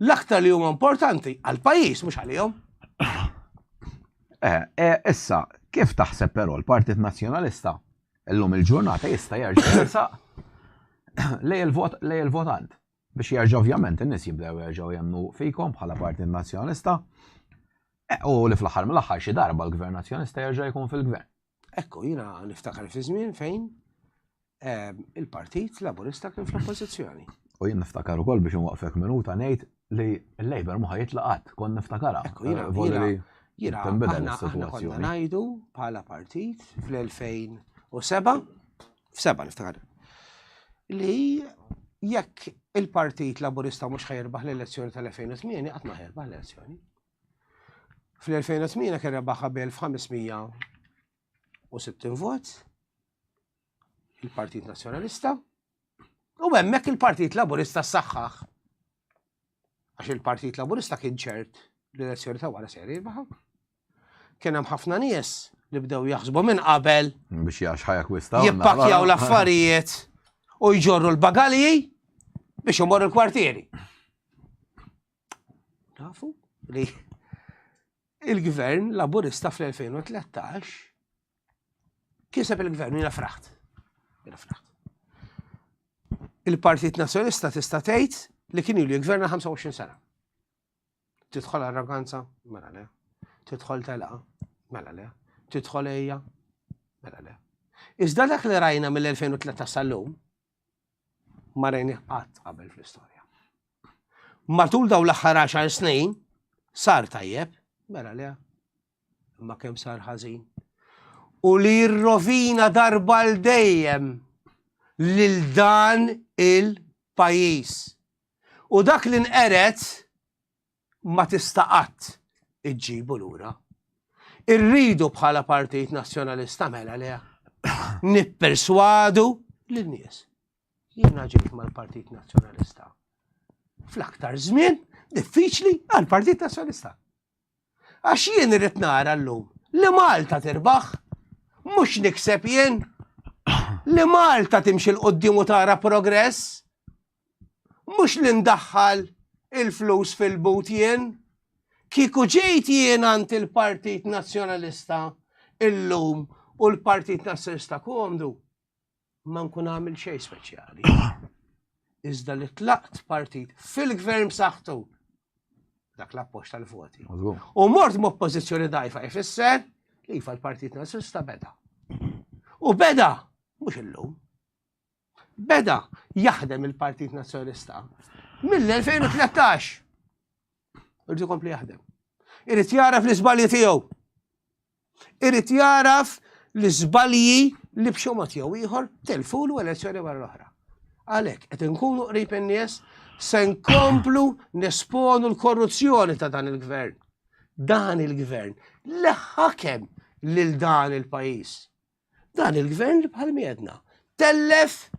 l-aktar li huma importanti għal pajjiż mhux għalihom. Eh,
eh, issa, kif taħseb però l-Partit Nazzjonalista llum il-ġurnata jista' jerġa' lej il-votant? biex jerġa' ovvjament in-nies jibdew jerġgħu jemmnu fikom bħala Partit Nazzjonalista, u li fl-aħħar mill-aħħar xi darba l-Gvern Nazzjonalista jerġa' jkun fil-Gvern. Ekku, jiena
niftakar fi żmien fejn ehm, il-Partit Laburista kien fl-Oppożizzjoni. U jien niftakar
ukoll biex nwaqfek minuta ngħid li l-Labor ma jitlaqat, kon niftakara. Ekku,
jiena eh, jiena aħna konna ngħidu bħala partit fl-2007 f'seba' niftakar, li jekk il-Partit Laburista mhux ħajrbaħ l-elezzjoni tal-2008 qatt ma ħajrbaħ l-elezzjoni. Fl-2008 kien rebaħ qabel f'500 u 60 vot il-Partit Nazzjonalista u hemmhekk il-Partit Laburista saħħaħ. Għax il-Partit Laburista kien ċert li l-elezzjoni ta' wara seri baħa. Kien hemm ħafna nies li bdew jaħsbu minn qabel. Biex jax ħajja
kwista. Jippakjaw l-affarijiet
u jġorru l-bagalji biex imorru l-kwartieri. Nafu li il-gvern laburista fl-2013 kiseb il-gvern jina fraħt. Jina fraħt. Il-Partit Nazjonista tista' tgħid li kien ilu jgverna 25 sena. Tidħol arroganza? Mela le. Tidħol telqa? Mela le. Tidħol ejja? Mela le. Iżda dak li rajna mill-2013 sal-lum, ma rajni qatt qabel fl-istorja. Matul daw l-aħħar 10 snin, sar tajjeb, mela le, ma kemm sar ħażin. U li jirrovina darba l-dejjem lil dan il-pajis. U dak li nqered ma tista' qatt iġġibu lura. Irridu bħala Partit Nazzjonalista mela le nipperswadu lin-nies. Jiena ġejt mal-Partit Nazzjonalista fl-aktar żmien diffiċli għall-Partit Nazzjonalista. Għax jien irrid nara llum li Malta tirbaħ, mhux nikseb jien li Malta timxi l-qoddim u tara progress. mhux li ndaħħal il-flus fil-but jien. Kieku ġejt jien għand il-Partit Nazzjonalista illum u l-Partit Nazzjonalista komdu, ma nkun għamil xejn speċjali. Iżda li tlaqt partit fil-gvern b'saħħtu dak l-appoġġ tal-voti. U mort
m'oppożizzjoni
dajfa ifisser li jifa l-Partit Nazzjonalista beda. U beda, mhux illum. Beda jaħdem il-Partit Nazzjonalista mill-2013. Irrid ikompli jaħdem. Irrid jaraf l-iżbalji tiegħu. Irrid jaraf l-iżbalji li b'xi mod jew ieħor telfulu elezzjoni wara l-oħra. Għalhekk qed inkunu qrib in-nies se nkomplu nesponu l-korruzzjoni ta' dan il-gvern. Dan il-gvern leħħakem lil dan il-pajjiż. Dan il-gvern li bħal miedna tellef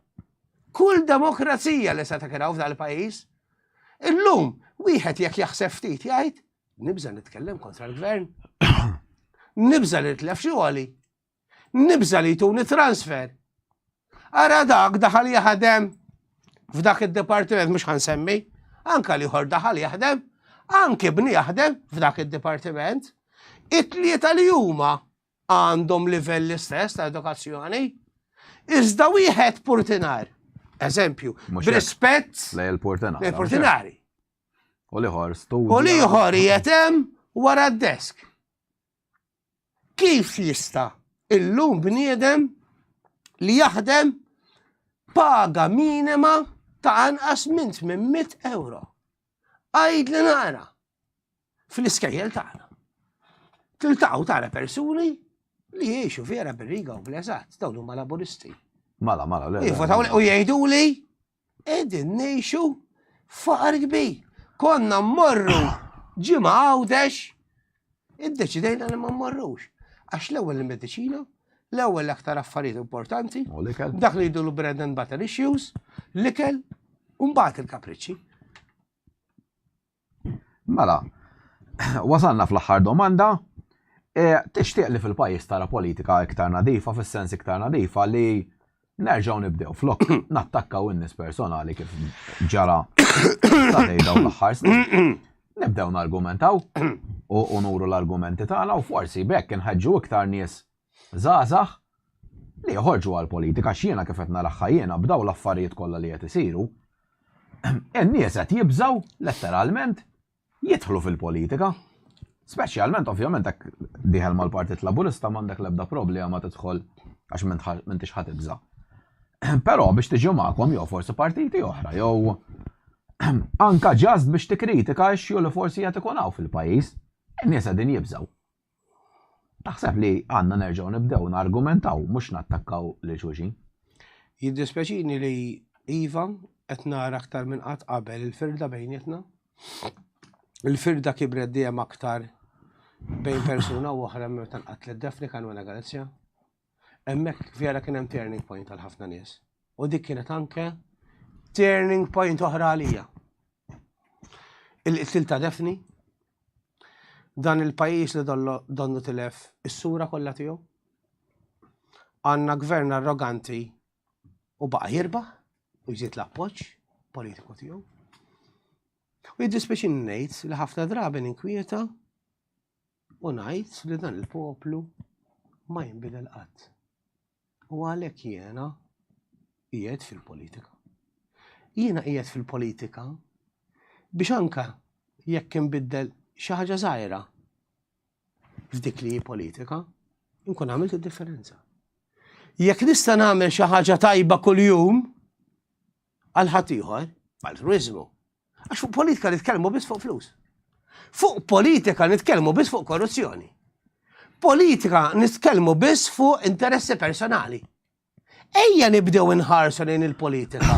kull demokrazija li se takraw f'dan il-pajjiż. Illum wieħed jekk jaħseb ftit jgħid nibża' nitkellem kontra l-gvern. Nibża' li tlef xi għoli. Nibża' li jtuni transfer. Ara dak daħal jaħdem f'dak id-dipartiment mhux ħansemmi, anka li ħor daħal jaħdem, anki bni jaħdem f'dak id-dipartiment, it-tlieta li huma għandhom livell l-istess ta' edukazzjoni, iżda wieħed purtinar. Eżempju, rispett lej il-purtinari.
U liħor studju. U liħor jietem
wara d-desk. Kif jista' illum bniedem li jaħdem paga minima ta' anqas minn 800 euro. Għajd li nara. fl-iskejjel tagħna. Tiltaqgħu tara persuni li jiexu vera bir-riga u bl-eżatt, dawn huma laburisti. Mala, mala, le.
Jivotaw u
jgħidu li qegħdin ngħixu faqar kbir. Konna mmorru ġimgħa għawdex, iddeċidejna li ma mmorrux. Għax l-ewwel il-mediċina, l-ewwel aktar affarijiet importanti, dak li jidulu bread and butter issues, l-ikel, u mbagħad il-kapriċċi.
Mela, wasalna fl-aħħar domanda. Tixtieq li fil-pajjiż tara politika iktar nadifa, fis-sens iktar nadifa li nerġgħu nibdew flok nattakkaw in-nies personali kif ġara sal-lejl dawn l-aħħar snin, nibdew nargumentaw u nuru l-argumenti tagħna u forsi b'hekk inħeġġu iktar nies żgħażagħ li joħorġu għall-politika għax jiena kif qed naraha jiena b'dawn l-affarijiet kollha li qed isiru in-nies qed jibżgħu letteralment jidħlu fil-politika. Speċjalment ovvjament hekk dieħel mal-Partit Laburista m'għandek l-ebda problema tidħol għax m'intix ħa tibża'. Però biex tiġi magħkom jew forsi partiti oħra jew anka ġast biex tikkritika x-xju li forsi qed ikun hawn fil-pajjiż, in-nies qegħdin jibżgħu. Naħseb li għandna nerġgħu nibdew nargumentaw mhux nattakkaw lil xulxin. Jiddispjaċini
li iva, qed nara aktar minn qatt qabel il-firda bejnietna. Il-firda kibret dejjem aktar bejn persuna u oħra meta nqatlet Daphne Caruana Galizia. Hemmhekk vera kien hemm turning point għal ħafna nies. U dik kienet anke turning point oħra għalija. Il-qtil ta' Defni, dan il-pajis li donnu tilef is-sura kollha tiegħu. Għandna gvern arroganti u baqa' jirbaħ u jżid l-appoġġ politiku tiegħu. U jiddispeċin ngħid li ħafna drabi ninkwieta U ngħid li dan il-poplu ma jinbidel qatt. U għalhekk jiena qiegħed fil-politika. Jiena qiegħed fil-politika biex anka jekk inbiddel xi ħaġa żgħira f'dik li politika, nkun għamilt id-differenza. Jekk nista' nagħmel xi ħaġa tajba kuljum għal ħadd ieħor, altruiżmu, Għax fuq politika nitkellmu biss fuq flus. Fuq politika nitkellmu biss fuq korruzzjoni. Politika nitkellmu biss fuq interessi personali. Ejja nibdew inħarsu lejn il-politika.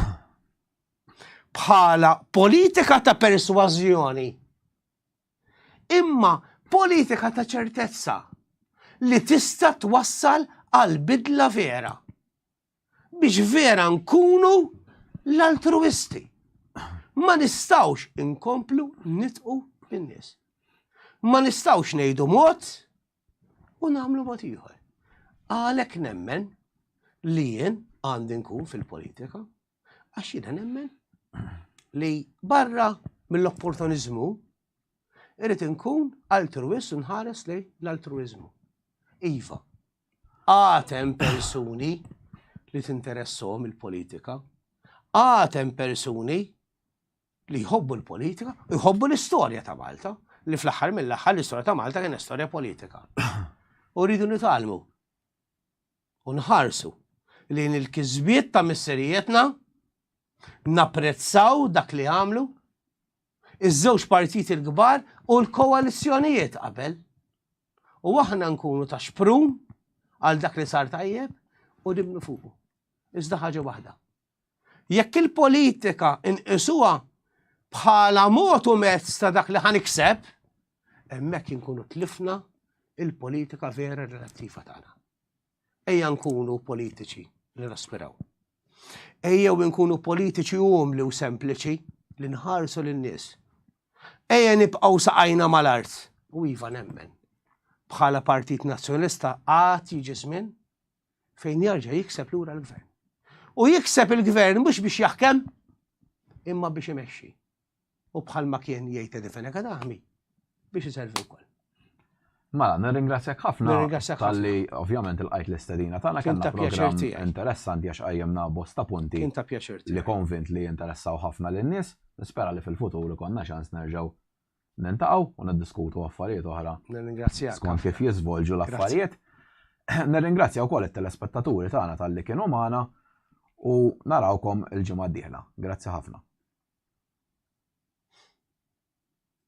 Bħala politika ta' persważjoni. Imma politika ta' ċertezza li tista' twassal għal bidla vera. biex vera nkunu l-altruisti. Ma nistawx inkomplu nitqu bin-nies. Ma nistawx ngħidu mod u nagħmlu mod ieħor. Għalhekk nemmen li jien għandi nkun fil-politika għax jiena nemmen li barra mill-opportunizmu irrid inkun altruist nħares li l-altruizmu. Iva, Għad hemm persuni li tinteressom il-politika. Għad hemm persuni li jħobbu l-politika u jħobbu l-istorja ta' Malta, li fl-aħħar mill-aħħar l-istorja ta' Malta kien istorja politika. U rridu nitalmu u nħarsu li il-kizbiet ta' misserijetna napprezzaw dak li għamlu iż-żewġ partijiet il-kbar u l-koalizzjonijiet qabel. U aħna nkunu ta' xprun għal dak li sar tajjeb u dimnu fuqu. Iżda ħaġa waħda. Jekk il-politika inqisuha bħala mod u mezz ta' dak li ħanikseb, hemmhekk inkunu tlifna il-politika vera relattiva tagħna. Ejja nkunu politiċi li naspiraw. Ejjew nkunu politiċi umli u sempliċi li nħarsu lin-nies. Ejja nibqgħu saqajna mal-art u iva nemmen. Bħala Partit Nazzjonista għad jiġi żmien fejn jarġa' jikseb lura l-gvern. U jikseb il-gvern mhux biex jaħkem imma biex imexxi. u bħalma kien jgħid Eddie Fenech Għad Aħmi, biex iservi wkoll. Mela,
nirringrazzjak ħafna tal-li ovvjament il-qajt l-istedina tagħna kellna programm interessanti għax qajjemna bosta punti li konvint li jinteressaw ħafna lin-nies, nispera li fil-futur ikonna ċans nerġgħu nintaqgħu u niddiskutu affarijiet oħra. Nirringrazzjak. Skont kif
jiżvolġu
l-affarijiet. Nirringrazzja wkoll it-telespettaturi tagħna tal-li kienu magħna u narawkom il-ġimgħa d-dieħla. Grazzi ħafna.